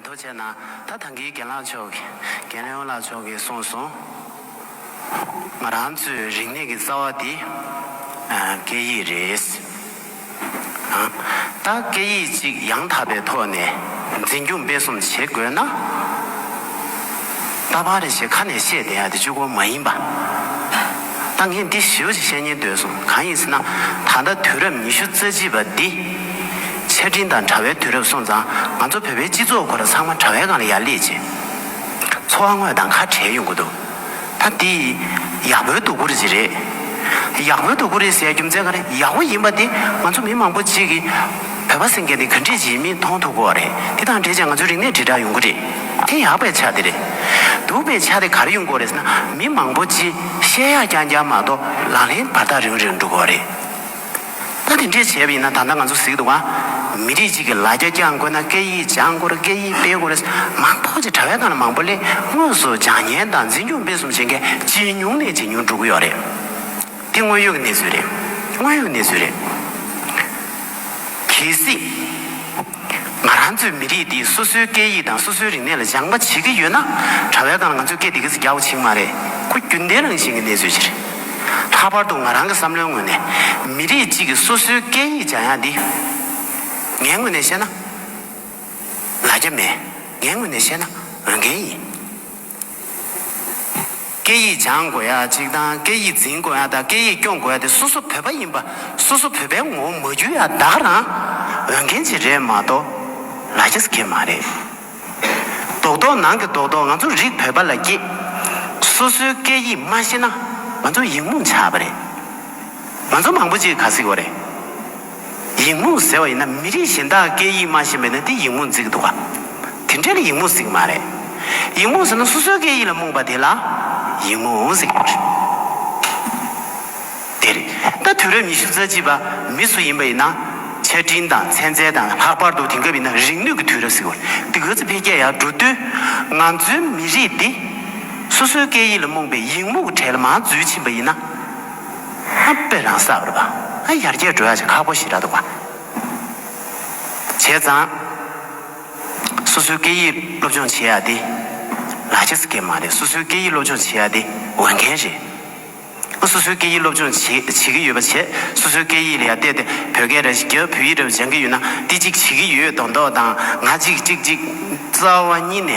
འདུ་བྱས་ན་ད་ཐང་གིས་རྒན་ལགས་མཆོག་གིས་རྒན་ལེའོ་ལགས་མཆོག་གིས་གསུངས་སོང། ང་རང་ཚོའི་རིག་གནས་ཀྱི་རྩ་བ་དེ་སྐད་ཡིག་རེད། ད་སྐད་ཡིག་གཅིག་ཡང་དག་པའི་ཐོག་ནས་འཛིན་སྐྱོང་སྤེལ་གསུམ་བྱེད་དགོས་ན། ད་བར་ཞེས་ཁ་ནས་བཤད་བསྡད་ཡ་དེ་ཆོས་གོ་མ་ཡིན་པ། ད་ངས་འདི་ཞིབ་ཀྱིས་བཤད་ཉན་འདོད་སོང་གང་ཡིན་ཟེར་ན། ད་ལྟ་དུས་རབས་ཉི་ཤུ་རྩ་གཅིག་པ་འདི། ཆ་འཕྲིན་དང་དྲ་བའི་དུས་རབས་སོང་ཙང་ང་ཚོ་བོད་པའི་སྤྱི་ཚོགས་སྐོར་ཚང་མ་དྲ་བའི་སྒང་ལ་ཡར་སླེབས་རྗེས། འཚོ་བ་དངོས་དང་ཁ་བྲལ་ཡོང་གི་འདུག་ད་འདི། ཡག་པོའི་དོ་ཁུར་ཅིག་རེད། ཡག་པོའི་དོ་ཁུར་རེད་ཟེར་ཡ་རྒྱུ་མཚན་གང་རེད་ཡག་པོ་ཡིན་པ་དེ་ང་ཚོ་མི་མང་པོ་གཅིག་གིས། བོད་པ་སེང་གེ་འདི་ག་འགྲིག་གྱི་ཡིན་མིན་མཐོང་ཐུབ་གོ་བ་རེད་དེ་དང་འབྲེལ་ཀྱང་ང་ཚོའི་རིག་གནས་དྲིལ་བསྒྲགས་ཡོང་གི་རེད་དེ་ཡག་པའི་ཆ་དེ་རེད་སྡུག་པའི་ཆ་དེ་ག་རེ་ཡོང་གི་རེད་ཟེར་ན་མི་མང་པོ་སྤྱིའི་བཤད་ཡག་རྐྱང་རྐྱང་མ་གཏོགས་ལག་ལེན་བར་ཐག་རིང་རིང་འགྲོ་གི་བ་རེད་ད་དེ་འདྲས་བྱས་པ་ཡིན་ན་ད་ལྟ་ང་ཚོ་གཟིགས་འདུག་ག་མི་རིགས་གཅིག་གི་ལ་རྒྱ་བསྐྱང་དགོས་ན་སྐད་ཡིག་སྦྱང་དགོས་རེད་སྐད་ཡིག་སྤེལ་དགོས་རེད་མང་ཐོག་ཀྱི་དྲ་བའི་ནང་ལ་མང་པོ་ལས་དངོས་སུ་སྦྱང་ཉན་དང་འཛིན་སྐྱོང་སྤེལ་གསུམ་བྱེད་མཁན་ཇེ་ཉུང་ནས་ཇེ་ཉུང་འགྲོ་གི་ཡོག་རེད། འདི་དངོས་ཡོད་ཀྱི་གནས་ཚུལ་རེད། དངོས་ཡོད་ཀྱི་གནས་ཚུལ་རེད། གལ་སྲིད། ང་རང་ཚོའི་མི་རིགས་འདིས་སོ་སོའི་སྐད་ཡིག་དང་སོ་སོའི་རིག་གནས་ལ་སྦྱང་པ་བྱེད་ཀྱི་ཡོད་ན། གྲྭ་བས་ཀང་ང་ཚོའི་སྐད་འདི་ག་ཚོད་རྒྱག་པ་བྱེད་ཀྱི་མ་རེད། ཁོ་རྒྱུན་ལྡན་རང་བཞིན་གྱི་གནས་ཚུལ་ཞིག་རེད། ལྷག་པར་དུ་ང་རང་གི་བསམ་བློའི་ངོས་ནས། མི་རིགས་གཅིག་གིས་སོ་སོའི་སྐད་ཡིག་སྦྱང་ཡག་འདི། ངའི་ངོས་ནས་བཤད་ན། ལ་རྒྱ་མེད། ངའི་ངོས་ནས་བཤད་ན་འོས་འགན་ཡིན། སྐད་ཡིག་སྦྱང་དགོས་ཡ་གཅིག་དང་སྐད་ཡིག་འཛིན་དགོས་ཡ་དང་སྐད་ཡིག་སྐྱོང་དགོས་ཡ་དེ་སོ་སོ་བོད་པ་ཡིན་པ་སོ་སོ་བོད་པའི་ངོ་བོ་མ་བརྒྱུད་ཡ་བདག་རང་འོས་འགན་ཅིག་རེད་མ་གཏོགས་ལ་རྒྱ་སྐད་མ་རེད། རྡོག་རྡོག་ནང་གི་རྡོག་རྡོག་ང་ཚོ་རིགས་བོད་པ་ལ་སྐྱིད། སོ་སོའི་སྐད་ཡིག་མ་ཤེས་ན་ང་ཚོ་ཡིག་རྨོངས་ཆགས་པ་རེད། ང་ཚོ་མང་པོ་ཅིག་ག་སྲིད་བོ་རེད། ཡིག་རྨོངས་ཟེར་བ་ཡིན་ན་མི་རིགས་གཞན་དག་སྐད་ཡིག་སྨྲ་བཞིན་པས་ན་དེ་ཡིག་རྨོངས་རྫིག་འདུག་ག། དེ་འདྲས་ལ་ཡིག་རྨོངས་ཟིག་མ་རེད། ཡིག་རྨོངས་ཟེར་ན་སོ་སོའི་སྐད་ཡིག་ལ་རྨོངས་པ་དེ་ལ་ཡིག་རྨོངས་ཟེར་གི་རེད། དེ་རེད། ད་དུས་རབས་ཉི་ཤུ་རྩ་གཅིག་པ་མི་སུ་ཡིན་པ་ཡིན་ན་ཆ་འཕྲིན་དང་ཚན་རྩལ་དང་ལྷག་པར་དུ་དེང་སྐབས་ཡིན་ན་རིག་ནུས་ཀྱི་དུས་རབས་ཟེར་བ་རེད། འདི་ག་ཚོད་འཕེལ་རྒྱས་ཡག་འགྲོ་དུས་ང་ཚོའི་མི་རིགས་འདི་སོ་སོའི་སྐད་ཡིག་ལ་རྨོངས་པའི་ཡིག་རྨོངས་ཀྱི་གྲལ་མ་འཛུལ་ཕྱིན་པ་ཡིན་ན། ཧ་པེ་རང་ས་རུ་བ་ཧ་ཡར་རྒྱས་འགྲོ་ཡག་ཅིག་ཁ་པོ་ཞིག་ར་འདུག་བ། བྱས་ཙང། སོ་སོའི་སྐད་ཡིག་སློབ་སྦྱོང་བྱེད་ཡག་དེ། ལག་ཁྱེར་སྐད་མ་རེད་སོ་སོའི་སྐད་ཡིག་སློབ་སྦྱོང་བྱེད་ཡག་དེ་འོས་འགན་རེད། ཨ་སོ་སོའི་སྐད་ཡིག་སློབ་སྦྱོང་བྱེད་བྱེད་ཀྱི་ཡོད་པ་བྱས་སོ་སོའི་སྐད་ཡིག་ལ་ཡར་བལྟས་ཏེ་བོད་སྐད་ར་བརྒྱབ་བོད་ཡིག་ར་སྦྱང་གི་ཡོད་ན་དེ་གཅིག་བྱེད་ཀྱི་ཡོད་མདོག་མདོག་དང་ང་གཅིག་གཅིག་གཅིག་རྩ་བ་གཉིས་ནས་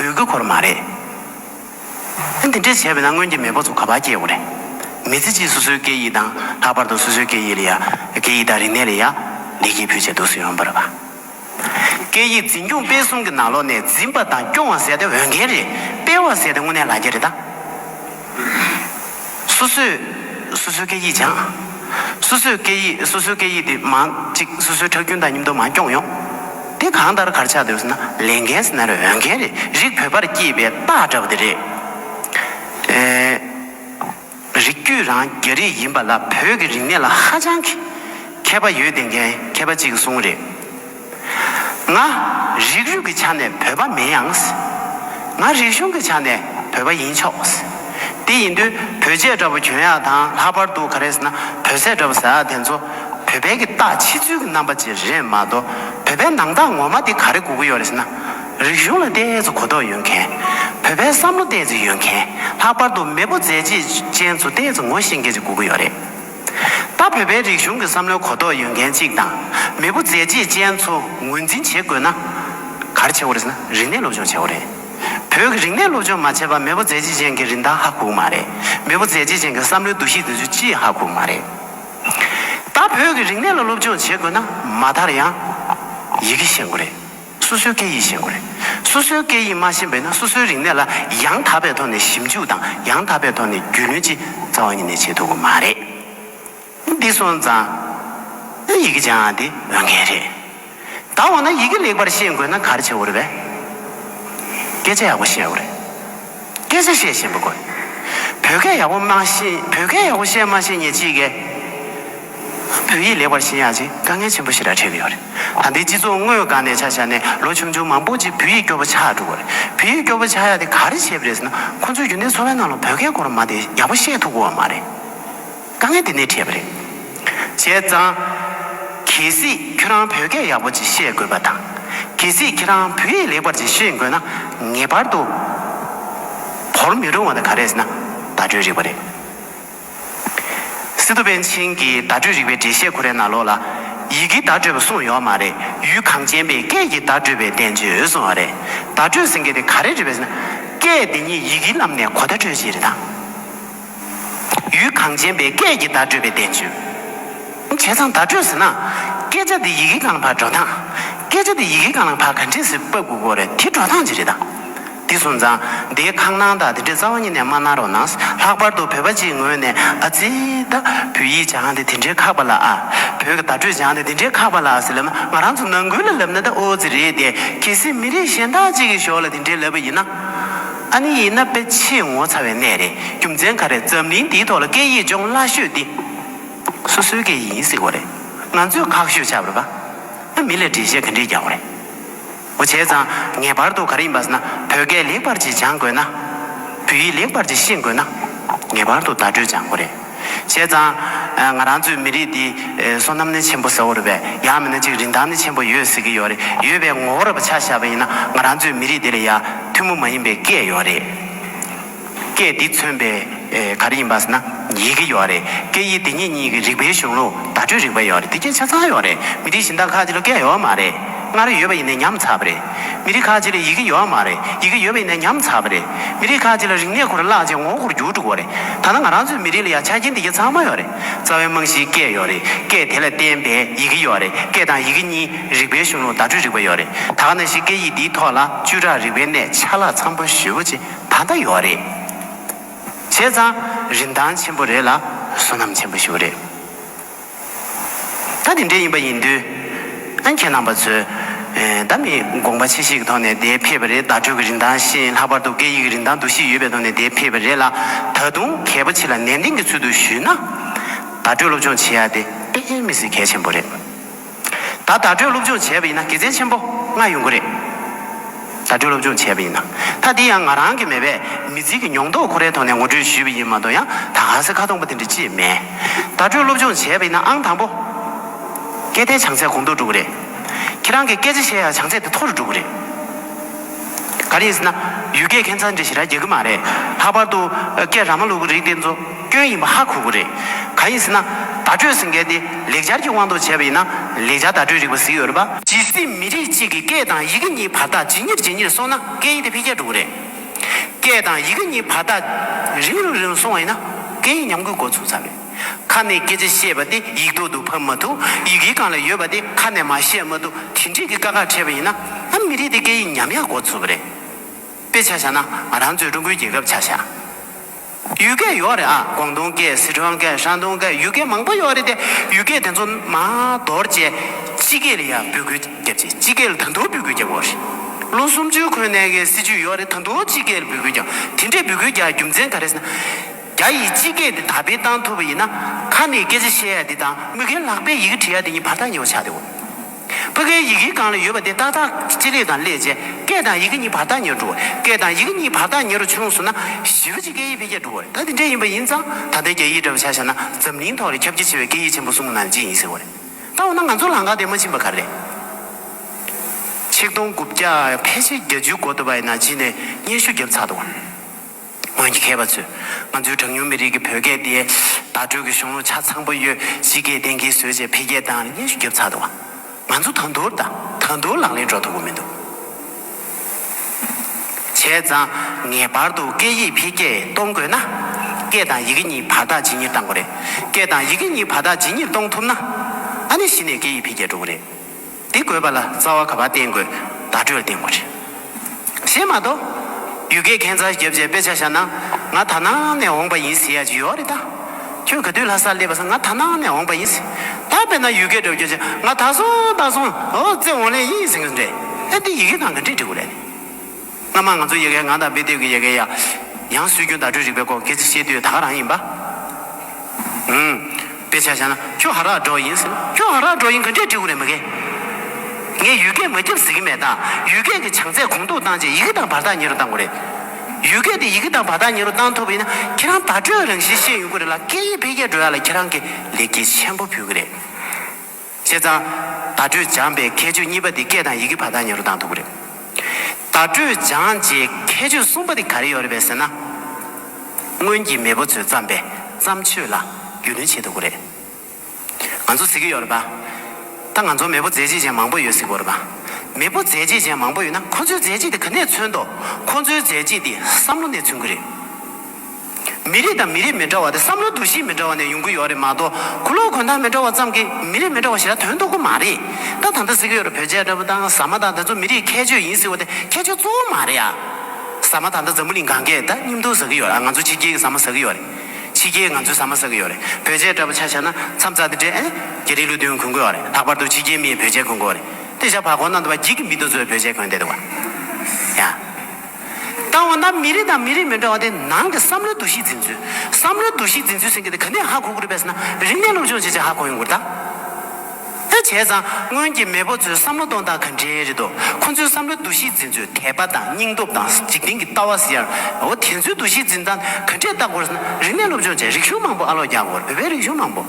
འོས་ཀྱི་གོར་མ་རེད། ཐེངས་འདི་འདྲས་བྱས་པས་ན་སྔོན་གྱི་མེས་པོ་ཚོ་ག་པར་སྐྱེས་ཡོང་རེད། མི་ཚེ་གཅིག་སོ་སོའི་སྐད་ཡིག་དང་ལྷག་པར་དུ་སོ་སོའི་སྐད་ཡིག་ལ་ཡ། སྐད་ཡིག་དང་རིག་གནས་ལ་ཡ། ལེགས་སྐྱེས་ཕུལ་བྱས་འདུག་སུ་ཡོང་པར། སྐད་ཡིག་འཛིན་སྐྱོང་སྤེལ་གསུམ་གྱི་ནང་ལོགས་ནས་འཛིན་པ་དང་སྐྱོང་བ་ཟེར་ཏེ་འོས་འགན་རེད། སྤེལ་བ་ཟེར་ཏེ་དངོས་གནས་ལག་འཁྱེར་རེད་ད། སོ་སོས་སོ་སོའི་སྐད་ཡིག་སྦྱངས། སོ་སོས་སྐད་ཡིག་སོ་སོའི་སྐད་ཡིག་དེ་མང་གཅིག་སོ་སོའི་ཁྲག་རྒྱུན་དང་སྙིམ་མདོ་མང་སྐྱོང་ཡོང། དེ་གང་ལྟར་གར་ཆགས་འདོད་ཟེར་ན་ལས་འགན་ཟེར་ན་རེ་འོས་འགན་རེད་རིགས་བོད་པར་སྐྱེས་པའི་སྟག་འདྲ་བོ་དེ་རེད། རིགས་རྒྱུད་རང་རྒྱ་རིགས་ཡིན་པ་ལ་བོད་ཀྱི་རིག་གནས་ལ་ཧ་ཅང་གི་མཁས་པ་ཡོད་དེ་འགན་མཁས་པ་གཅིག་གསུང་རེད། ང། རིགས་རུས་ཀྱི་ཆ་ནས་བོད་པ་མིན་ཡང། ང། རིག་གཞུང་གི་ཆ་ནས་བོད་པ་ཡིན་ཆོག། དེ་ཡིན་དུས་བོད་ཆས་འདྲ་བོ་གྱོན་ཡག་དང་ལྷག་པར་དུ་ག་རེ་ཟེར་ན་བོད་ཟས་འདྲ་བོ་ཟ་ཡག་དེ་ཚོ། བོད་པའི་གི་རྟགས་ཕྱི་ཚུལ་གྱི་རྣམ་པ་ཅིག་རེད་མ་གཏོགས་བོད་པའི་ནང་རྟགས་ངོ་མ་དེ་ག་རེ་གོ་གི་ཡོད་རེད་ཟེར་ན། རིག་གཞུང་ལ་བལྟས་ཚེ་གོ་རྟོགས་ཡོད་མཁན། བོད་པའི་བསམ་བློ་བལྟས་ཚེ་ཡོད་མཁན་ལྷག་པར་དུ་མེས་པོ་མཛད་རྗེས་ཅན་ཚོ་བལྟས་ཚེ་ངོ་ཤེས་མཁན་ཅིག་གོ་གི་ཡོད་རེད། ད་བོད་པའི་རིག་གཞུང་གི་བསམ་བློའི་གོ་རྟོགས་ཡོད་མཁན་གཅིག་དང། མེས་པོ་མཛད་རྗེས་ཅན་ཚོ་ངོས་འཛིན་བྱེད་དགོས་ན། གར་བྱེད་དགོས་ཟེར་ན་རིག་གནས་སློབ་སྦྱོང་བྱེད་དགོས་རེད། བོད་ཀྱི་རིག་གནས་སློབ་སྦྱོང་མ་བྱས་པར་མེས་པོ་མཛད་རྗེས་ཅན་གྱི་རིན་ཐང་ཧ་གོ་མ་རེད། མེས་པོ་མཛད་རྗེས་ཅན་གྱི་བསམ་བློའི་འདུ་ཤེས་དེ་ཚོའི་ཅི་ཡི་ཧ་གོ་མ་རེད། ད་བོད་ཀྱི་རིག་གནས་ལ་སློབ་སྦྱོང་བྱེད་དགོས་ན་མ་མཐར་ཡང། ཡི་གེ་ཤེས་དགོས་རེད། སོ་སོའི་སྐད་ཡིག་ཤེས་དགོས་རེད། སོ་སོའི་སྐད་ཡིག་མ་ཤེས་པས་ན་སོ་སོའི་རིག་གནས་ལ་ཡང་དག་པའི་ཐོག་ནས་ཞིབ་འཇུག་དང་ཡང་དག་པའི་ཐོག་ནས་རྒྱུས་ལོན་ཅི་རྩ་བ་ཉིད་ནས་བྱེད་ཐུབ་ཀྱི་མ་རེད། འདི་སོང་ཙང། ཡི་གེ་སྦྱང་བ་འདི་འོས་འགན་རེད། ད་འོ་ན་ཡི་གེ་ལེགས་པར་ཤེས་དགོས་ན་ག་རེ་བྱེད་དགོས་རེད་བལྟས། སྐད་ཆ་ཡག་པོ་བཤད་དགོས་རེད། སྐད་ཆ་བཤད་བཞིན་པ་དགོས། བོད་སྐད་ཡག་པོ་སྨྲ་ཤེས་བོད་སྐད་ཡག་པོ་བཤད་སྨྲ་ཤེས་ཉེས་ཅི་ཡི་གེ། བོད་ཡིག་ལེགས་པར་ཤེས་ཡག་ཅིག་དཀའ་ངལ་ཆེན་པོ་ཞིག་ལ་འཕྲད་ཀྱི་ཡོད་རེད། ད་འདི་སྤྱི་ཚོགས་དངོས་སྒང་ནས་ཆ་བཞག་ནས་ལོ་ཆུང་ཆུང་མང་པོ་ཅིག་བོད་ཡིག་སྐྱོ་པོ་ཆགས་འགྲོ་གི་རེད། བོད་ཡིག་སྐྱོ་པོ་ཆགས་ཡག་དེ་ག་རེ་བྱས་པ་རེད་ཟེར་ན་ཁོང་ཚོས་རྒྱུན་ལྡན་འཚོ་བའི་ནང་ལ་བོད་སྐད་སྐོར་མ་དེ་ཡག་པོ་བཤད་ཐུབ་དགོས་བ་མ་རེད། དཀའ་ངལ་དེ་འདི་འཕྲད་པ་རེད། བྱས་ཙང། གལ་སྲིད་ཁྱོད་རང་བོད་སྐད་ཡག་པོ་ཅིག་ཤེས་དགོས་པ་དང། གལ་སྲིད་ཁྱེད་རང་བོད་ཡིག་ལེགས་པར་ཅིག་ཤེས་དགོས་ན། ངེས་པར་དུ། བོར་མི་རུང་བ་དང་ག་རེ་ཟེར་ན། བརྡ་སྤྲོད་རིག་པ་རེད། སི་ཏུ་པན་ཆིན་གྱི་བརྡ་སྤྲོད་རིག་པའི་འགྲེལ་བཤད་གོ་རེ་ན་ལོ་ལ། ཡི་གེའི་བརྡ་སྤྲོད་པ་གསུངས་ཡོད་མ་རེད། ཡུལ་གངས་ཅན་པས་སྐད་ཀྱི་བརྡ་སྤྲོད་པའི་བསྟན་བཅོས་གསུངས་བ་རེད། བརྡ་སྤྲོད་ཟེར་མཁན་དེ་ག་རེ་རེད་པ་ཟེར་ན། སྐད་འདི་ཉིད་ཡི་གེའི་ལམ་ནས་གོ་བརྡ་སྤྲོད་བྱེད་རེད་ད། ཡུལ་གངས་ཅན་པའི་སྐད་ཀྱི་བརྡ་སྤྲོད་པའི་བསྟན་བཅོས། བྱས་ཙང་བརྡ་སྤྲོད་ཟེར་ན། སྐད་ཆ་འདི་ཡི་གེ་གང་ལ་ཕར་འགྲོ་སྟངས། སྐད་ཆ་འདི་ཡི་གེ་གང་ལ་ཕར་ག་འདྲེས་ཟེར་པ་དགུ་དགོ་རེད་དེ་འགྲོ་སྟངས་ཅི་རེད་ད། དེ་སོང་ཙང་དེའི་ཁང་ནང་དག་དེ་འདྲའི་རྩ་བ་ཉིད་ནས་མ་གནང་རོགས་གནང། ལྷག་པར་དུ་བོད་པ་སྤྱིའི་ངོས་ནས་ཨ་ཙི། ད་བོད་ཡིག་སྦྱང་དེ་དེ་འདྲའི་ཁག་པ་ལ་ཨ། བོད་ཀྱི་བརྡ་སྤྲོད་སྦྱང་དེ་དེ་འདྲའི་ཁག་པ་ལ་ཨ་ཟེར་ལབ་ན་ང་རང་ཚོ་ནང་ཁུལ་ལ་ལབ་ན་ད་ཨོ་ཙི་རེད་དེ། གལ་སྲིད་མི་རིགས་གཞན་དག་ཅིག་གི་ཞོར་ལ་དེ་འདྲའི་ལབ་པ་ཡིན་ན། ཨ་ནི་ཡིན་ན་དཔེ་ཆེས་ངོ་ཚ་བའི་གནས་རེད་རྒྱུ་མཚན་ག་རེད་འཛམ་གླིང་འདིའི་ཐོག་ལ་སྐད་ཡིག་སྦྱོང་སླ་ཤོས་འདི་སོ་སོའི་སྐད་ཡིག་ཡིན་སྲིད་གོ་རེད་ང་ཚོས་ཁག་ཤོས་ཆགས་པ་ན་མི་ལ་འདྲི་བཤད་ག་འདྲིས་རྒྱག་གོ་རེད་འོ་བྱས་ཙང་ངེས་པར་དུ་ག་རེ་ཡིན་པ་ཟེར་ན་བོད་སྐད་ལེགས་པར་གྱིས་སྦྱང་དགོས་ན་བོད་ཡིག་ལེགས་པར་གྱིས་ཤེས་དགོས་ན་ངེས་པར་དུ་བརྡ་སྤྲོད་སྦྱང་གོ་རེད། བྱས་ཙང། ང་རང་ཚོའི་མི་རིགས་འདིས་སོ་ནམ་ནི་ཆེན་པོ་ཟེར་བ་རེད་པས་ཡང་མིན་ན་ཅིག་རིན་ཐང་ནི་ཆེན་པོ་ཡོད་ཟེར་གྱི་ཡོད་རེད་ཡོད་པའི་ངོ་བོར་བ་ཆགས་བཞག་པ་ཡིན་ན་ང་རང་ཚོའི་མི་རིགས་འདི་ལ་ཡང་ཐུན་མོང་མ་ཡིན་པའི་སྐད་ཡོད་རེད། སྐད་འདི་མཚོན་པའི་ག་རེ་ཡིན་པ་ཟེར་ན་ཡི་གེ་ཡོད་རེད་སྐད་ཡིག་འདི་གཉིས་གཉིས་ཀྱི་རིག་པའི་གཞུང་ལུགས་བརྡ་སྤྲོད་རིག་པ་ཡོད་རེད་འདི་སྐད་ཆ་ཚང་ཡོད་རེད་མི་རིགས་གཞན་དག་ཁག་ཅིག་ལ་སྐད་ཡོད་མ་རེད་སྔར་ཡོད་པ་ཡིན་ནའི་ཉམས་ཚར་བ་རེད། མི་རིགས་ཁག་ཅིག་ལ་ཡི་གེ་ཡོད་ཨ་མ་རེད་ཡི་གེ་ཡོད་པའི་ནས་ཉམས་ཚར་བ་རེད་མི་རིགས་ཁག་ཅིག་ལ་རིག་གནས་ཁུར་བརླག་ཅིང་ངོ་རྒོར་རྒྱུགས་དྲུག་བ་རེད་ད་ལྟ་ང་རང་ཚོའི་མི་རིགས་ལ་ཡང་ཆ་རྐྱེན་དེ་རྒྱ་ཚང་མ་ཡོད་རེད་རྩ་བའི་རྨང་གཞིའི་སྐད་ཡོད་རེད་སྐད་དེ་ལ་བརྟེན་པའི་ཡི་གེ་ཡོད་རེད་སྐད་དང་ཡི་གེ་གཉིས་རིག་པའི་གཞུང་ལུགས་བརྡ་སྤྲོད་རིག་པ་ཡོད་རེད་ད་ག་ན་ཞིག་སྐད་ཡིག་འདིའི་ཐོག་ལ་བཅུ་ཕྲག་རིག་པའི་གནས་ཆ་ལག་ཚང་པོ་ཞེ་བོ་ཅི་ད་ལྟ་ཡོད་རེད་བྱས་ཙང་རིན་ཐང་ཆེན་པོ་རེད་ལ་བསོད་ནམས་ཆེན་པོ་ཞིག་རེད། ད་དེ་འདྲས་ཡིན་པ་ཡིན་དུས། ཨ་ཁྱེད་རྣམས་པ་ཚོས། ད་མི་དགོངས་པ་ཆེ་ཞིག་གི་ཐོག་ནས་དེ་ཕེབས་པ་རེད་བརྡ་སྤྲོད་ཀྱི་རིན་ཐང་ཤེས་ལྷག་པར་དུ་སྐད་ཡིག་གི་རིན་ཐང་འདུ་ཤེས་ཡོད་པའི་ཐོག་ནས་དེ་ཕེབས་པ་རེད་ལ། ད་དུང་གལ་པོ་ཆེ་ལ་ནན་ཏན་གྱི་ཚུལ་དུ་ཞུས་ན། བརྡ་སྤྲོད་སློབ་སྦྱོང་བྱེད་ཡ་དེ་དཔེ་ངན་མི་སྲིད་གལ་ཆེན་པོ་རེད། ད་བརྡ་སྤྲོད་སློབ་སྦྱོང་བྱས་པ་ཡིན་ན་དགེ་མཚན་ཆེན་པོ་ལྔ་ཡོང་གི་རེད། བརྡ་སྤྲོད་སློབ་སྦྱོང་བྱས་པ་ཡིན། མཐའ་དེ་ཡང་ང་རང་གི་མེད་པས་མི་ཚེ་གི་མྱོང་རྟོགས་ཁོ་རའི་ཐོག་ནས་ངོ་སྤྲོད་ཞུས་པ་ཡིན་མ་གཏོགས་ཡང་དག་ཧ་སེ་ཁ་སྟོང་པ་དེ་འདྲ་ཅིས་མེད། བརྡ་སྤྲོད་སློབ་སྦྱོང་བྱས་པ་ཡིན་ན་ཨང་དང་པོ། སྐད་བརྡའི་བྱང་ཚད་གོང་མཐོར་འགྲོ་གི་རེད། ཁྱེད་རང་གིས་སྐད་ཆ་བཤད་ཡག་བྱང་ཚད་དེ་མཐོ་རུ་འགྲོ་གི་རེད། ག་རེ་ཡིན་ཟེར་ན། ཡུལ་སྐད་ཁྱད་མཚར་འདྲ་ཞིག་ར་རྒྱག་གི་མ་རེད། ལྷག་པར་དུ། སྐད་ར་མ་ལུག་གི་རིགས་དེ་ཚོ། སྐྱོན་ཡིན་པ་ཧ་གོ་གི་རེད། ག་ཡིན་ཟེར་ན། བརྡ་སྤྲོད་ཟེར་མཁན་དེ་ལེགས་སྦྱར་གྱི་དབང་དུ་བྱས་པ་ཡིན་ན་ལེགས་སྦྱར་བརྡ་སྤྲོད་རིག་པ་གཟིགས་ཡོད་རེད་པ། ཇི་སྲིད་མི་རིགས་གཅིག་གི་སྐད་དང་ཡི་གེ་གཉིས་བར་ཐག་ཇི་གཉེར་ཇི་གཉེར་སོང་ན་སྐད་ཡིག་དེ་འཕེལ་རྒྱས་འགྲོ་གི་རེད། སྐད་དང་ཡི་གེ་གཉིས་བར་ཐག་རིང་རུ་རིང་རུ་སོང་བ་ཡིན་ན་སྐད་ཡིག་ཉམས་རྒུད་འགོ་ཚུགས་ཚར་རེད། ཁ་ནས་སྐད་ཆ་བཤད་པ་དེ་ཡིག་ཐོག་ཏུ་ཕབ་མ་ཐུབ་ཡི་གེ་གང་ལ་ཡོད་པ་དེ་ཁ་ནས་མ་བཤད་མ་ཐུབ་དེ་འདྲས་ཀྱི་དཀའ་ཁག་འཕྲད་པ་ཡིན་ན་ཨ་མི་རིགས་དེ་སྐད་ཡིག་ཉམས་ཡག་འགོ་ཚུགས་པ་རེད། དཔེ་ཆ་བཞག་ན་ང་རང་ཚོའི་ཀྲུང་གོའི་རྒྱལ་ཁབ་ཆ་བཞག། ཡུལ་སྐད་ཡོད་རེད་ཨ། ཀོང་ཏུང་སྐད་སི་ཁྲོན་སྐད་ཧྲན་ཏུང་སྐད་ཡུལ་སྐད་མང་པོ་ཡོད་རེད་དེ་ཡུལ་སྐད་དེ་ཚོ་མ་དོར་རྗེས་སྤྱི་སྐད་ལ་ཡང་འབོད་སྐུལ་བརྒྱབ་རྗེས་སྤྱི་སྐད་ལ་ད་དུང་འབོད་སྐུལ་རྒྱག་དགོས་རེད། ལོ་སུམ་ཅུའི་གོན་ནས་གི་སྲིད་ཇུས་ཡོད་རེད་ད་དུང་སྤྱི་སྐད་ལ་འབོད་སྐུལ་རྒྱག་དེ་འདྲའི་འབོད་སྐུལ་རྒྱག་རྒྱུ་མཚན་ག་རེད་ཟེར་ན། རྒྱ་ཡིས་སྤྱི་སྐད་འདི་དར་སྤེལ་བཏང་ཐུབ་པ་ཡིན་ན་ཁ་ནས་སྐད་ཆ་བཤད་ཡ་འདི་དང་མི་གིས་ལག་པས་ཡི་གེ་བྲི་ཡ་འདི་གཉིས་བར་ཐག་ཉེ་བོ་ཆགས་འདི་འོ། བྷ་གའི་ཡི་གེའི་སྒང་ལ་ཡོད་པ་དེ་ཏག་ཏག་སྤྱི་ལེ་དང་སླས་བཅད་སྐད་དང་ཡི་གེ་གཉིས་བར་ཐག་ཉེར་དྲུག་སྐད་དང་ཡི་གེ་གཉིས་བར་ཐག་ཉེར་བཅུ་ལོངས་སུ་ན་བཞི་བཅུ་གཅིག་སྐད་ཡིག་འཕེལ་རྒྱས་འགྲོ་བ་རེད་ད་དེ་འདྲས་ཡིན་པ་ཡིན་ཙང་ད་ལྟའི་རྒྱ་ཡིག་འདྲ་བ་ཆ་བཞག་ན་འཛམ་གླིང་ཐོག་ལས་ཁྱབ་རྒྱ་ཆེ་བའི་སྐད་ཡིག་ཆེན་པོ་གསུམ་ནང་གཅིག་ཡིན་ཟེར་བ་རེད་ད་འོ་ན་ང་ཚོ་ལང་ཀ་དེ་མ་ཕྱིན་པ་ག་རེད། ཆིག་སྟོང་དགུ་བརྒྱ་ཕལ་ཆེར་བརྒྱ་བཅུའི་འགོ་ཐོབ་པ་ཡིན་ན་ཕྱིན་ནས་སྙན་ཞུ་བརྒྱབ་ཚར་འདུག། སྔོན་གྱི་མཁས་པ་ཚོས་ང་ཚོའི་གྲངས་ཉུང་མི་རིགས་ཀྱི་བོད་སྐད་དེ་བརྡ་སྤྲོད་ཀྱི་གཞུང་ལུགས་ཆ་ཚང་པོ་ཡོད་གཞི་སྐད་གཏན་འཁེལ་བཟོས་རྗེས་འཕེལ་རྒྱས་དང་དབྱེ་ཞིབ་བརྒྱབ་ཚར་འདུག་ང་ཚོ་ད་མདོར་ད་མདོར་ལག་ལེན་འགྲོ་ཐུབ་པོ་མི་འདུག་བྱས་ཙང་ངེས་པར་དུ་སྐད་ཡིག་འཕེལ་རྒྱས་གཏོང་དགོས་ན་སྐད་དང་ཡི་གེ་གཉིས་བར་ཐག་ཇི་སྙེད་གཏང་དགོས་རེད་སྐད་དང་ཡི་གེ་གཉིས་བར་ཐག་ཇི་སྙེད་གཏོང་ཐུབ་ན་ད་ནས་གཞི་ནས་སྐད་ཡིག་འཕེལ་རྒྱས་འགྲོ་གི་རེད། འདི་དགོས་པ་ལ་རྩ་བ་ག་པར་བརྟེན་དགོས་བརྡ་སྤྲོད་བརྟེན་དགོས་རེད། ཞེས་མ་གཏོགས། ཡུལ་སྐད་མཁན་ཚ་རྒྱབ་རྗེས་དཔེ་ཆ་བཞག་ན་ང་ད་ནངས་ནས་འོངས་པ་ཡིན་ཟེར་ཡག་ཅིག་ཡོད་རེད་ད། ཁྱོད་ག་དུས་ལྷ་སར་སླེབས་པ་སང་ང་ད་ནངས་ནས་འོངས་པ་ཡིན་ཟེར། ད་དཔེར་ན་ཡུལ་སྐད་སྒྲོག་རྒྱུ་ཆ་ང་ད་སོང་ད་སོང་འོ་རྩེ་འོང་ལེ་ཡིན་ཟེར་གི་རེད། ཨེ་འདི་ཡི་གེ་ནང་གི་འབྲི་འབྲི་གོ་རེད། སྔ་མ་ང་ཚོའི་ཡི་གེའི་ངག་དང་དཔེ་དེབ་ཀྱི་ཡི་གེའི་ཡང་སྲོལ་རྒྱུན་བརྡ་སྤྲོད་རིག་པའི་སྐོར་སྐད་ཆ་བཤད་དུས་ད་ག་རང་ཡིན་པ། ཨུན། དཔེ་ཆ་བཞག་ན་ཁྱོད་ཧ་རག་འགྲོ་ཡིན་ཟེར། ཁྱོད་ཧ་རག་འགྲོ་ཡིན་གང་འདྲའི་འདྲི་ཨུ་རེད་མི་དགེ། ངས་ཡུལ་སྐད་མ་རྒྱབ་ཟེར་གྱི་མེད་ད། ཡུལ་སྐད་ཀྱི་བྱང་ཚད་གོང་མཐོར་བཏང་རྗེས་ཡི་གེ་དང་བར་ཐག་ཉེ་རུ་བཏང་དགོས་རེད། ཡུལ་སྐད་དེ་ཡི་གེ་དང་བར་ཐག་ཉེ་རུ་བཏང་ཐུབ་པ་ཡིན་ན་ཁྱེད་རང་བརྡ་སྤྲོད་རང་བཞིན་ཤེས་ཡོང་གི་རེད་ལ་སྐད་ཡིག་འཕེལ་རྒྱས་འགྲོ་ཡག་ལ་ཁྱེད་རང་གིས་ལེགས་སྐྱེས་ཆེན་པོ་ཕུལ་གི་རེད། བྱས་ཙང། བརྡ་སྤྲོད་སྦྱངས་པའི་ཁྱད་ཆོས་གཉིས་པ་དེ་སྐད་དང་ཡི་གེ་བར་ཐག་ཉེ་རུ་བཏང་འདུག་གི་རེད། བརྡ་སྤྲོད་སྦྱངས་རྗེས་ཁྱད་ཆོས་གསུམ་པ་དེ་ག་རེ་ཡོད་རེད་པས་ཟེར་ན། སྔོན་གྱི་མེས་པོ་ཚོས་བརྩམས་པའི་བརྩམས་ཆོས་ལ་རྒྱུས་ལོན་བྱས་འདུག་གི་རེད། ང་ཚོ་གཟིགས་ཀྱི་ཡོད་རེད་པ། ད་ང་ཚོར་མེས་པོ་མཛད་རྗེས་ཅན་མང་པོ་ཡོད་གཟིགས་དགོས་རེད་པ། མེས་པོ་མཛད་རྗེས་ཅན་མང་པོ་ཡོད་ན་ཁོ་ཚོའི་མཛད་རྗེས་དེ་ག་ནས་མཚོན་ཏོ། ཁོ་ཚོའི་མཛད་རྗེས་དེ་བསམ་བློ་ནས་མཚོན་གྱི་རེད། མི་རིགས་དང་མི་རིགས་མི་འདྲ་བ་དེ་བསམ་བློ་འདུ་ཤེས་མི་འདྲ་བ་ནས་ཡོང་གི་ཡོད་རེད་མ་གཏོགས་གུ་ལོག་གོན་ཐང་མི་འདྲ་བ་ཙམ་གྱིས་མི་རིགས་མི་འདྲ་བ་ཞིག་ལ་དོན་རྟོགས་གི་མ་རེད་ད་ད་ལྟ་གཟིགས་ཡོད་རེད་བོད་ཆས་འདྲ་བོ་དང་ཟ་མ་དང་དེ་ཚོ་མི་རིགས་ཁྱད་ཆོས་ཡིན་ཟེར་བ་དེ་ཁྱད་ཆོས་གཙོ་བོ་མ་རེད་ཨ། ཟ་མ་ད་ལྟ་འཛམ་བུ་གླིང་གང་གས་ད་སྙིམ་དོར་ཟ་གི་ཡོད་རེད་ཨ་ང་ཚོ་ཕྱི་རྒྱལ་གྱི་ཟ་མ་ཟ་གི་ཡོད་རེད་ཕྱི་རྒྱལ་ང་ཚོའི་ཟ་མ་ཟ་གི་ཡོད་རེད་བོད་ཆས་འདྲ་བོ་ཆ་ཆ་ན་མཚམས་རྩ་དེ་འདྲས་ཨེ་རྒྱ་རིགས་ལུགས་མཐུན་གོན་དགོས་བ་རེད་ལྷག་པར་དུ་ཕྱི་རྒྱལ་མིས་བོད་ཆས་གོན་དགོས་བ་རེད་དེ་བཞག་བར་གོ་ན་འདུག་བ་འགྱིག་གི་མི་དང་ཚོས་བོད་ཆས་གོན་བསྡད་འདུག་བ་ཡ། དང་བ་ན་མི་རིགས་དང་མི་རིགས་མི་འདྲ་བ་དེ་ནང་གི་བསམ་བློའི་འདུ་ཤེས་འཛིན་ཚུལ། བསམ་བློའི་འདུ་ཤེས་འཛིན་ཚུལ་ཟེར་མཁན་དེ་ག་ནས་ཧ་གོ་དགོས་རེད་པས་ན་རིག་གནས་སློབ་སྦྱོང་བྱེད་ཆེད་ཧ་གོ་ཡོང་དགོས་རེད་ད། དེ་བྱས་ཙང་སྔོན་གྱི་མེས་པོ་ཚོའི་བསམ་བློ་གཏོང་སྟངས་ག་འདྲའི་རེད་དོ། ཁོ་ཚོའི་བསམ་བློའི་འདུ་ཤེས་འཛིན་ཚུལ་དད་པ་དང་སྙིང་སྟོབས་དང་འཇིག་རྟེན་གྱི་ལྟ་བ་ཟེར་ཡང་རེད། འོ་དེ་ཚོའི་འདུ་ཤེས་འཛིན་སྟངས་ག་འདྲས་བལྟ་དགོས་ཟེར་ན་རིག་གནས་སློབ་སྦྱོང་བྱས་རིག་གཞུང་མང་པོ་ཨ་ལོག་རྒྱག་དགོས་རེད་བོད་པའི་རིག་གཞུང་མང་པོ།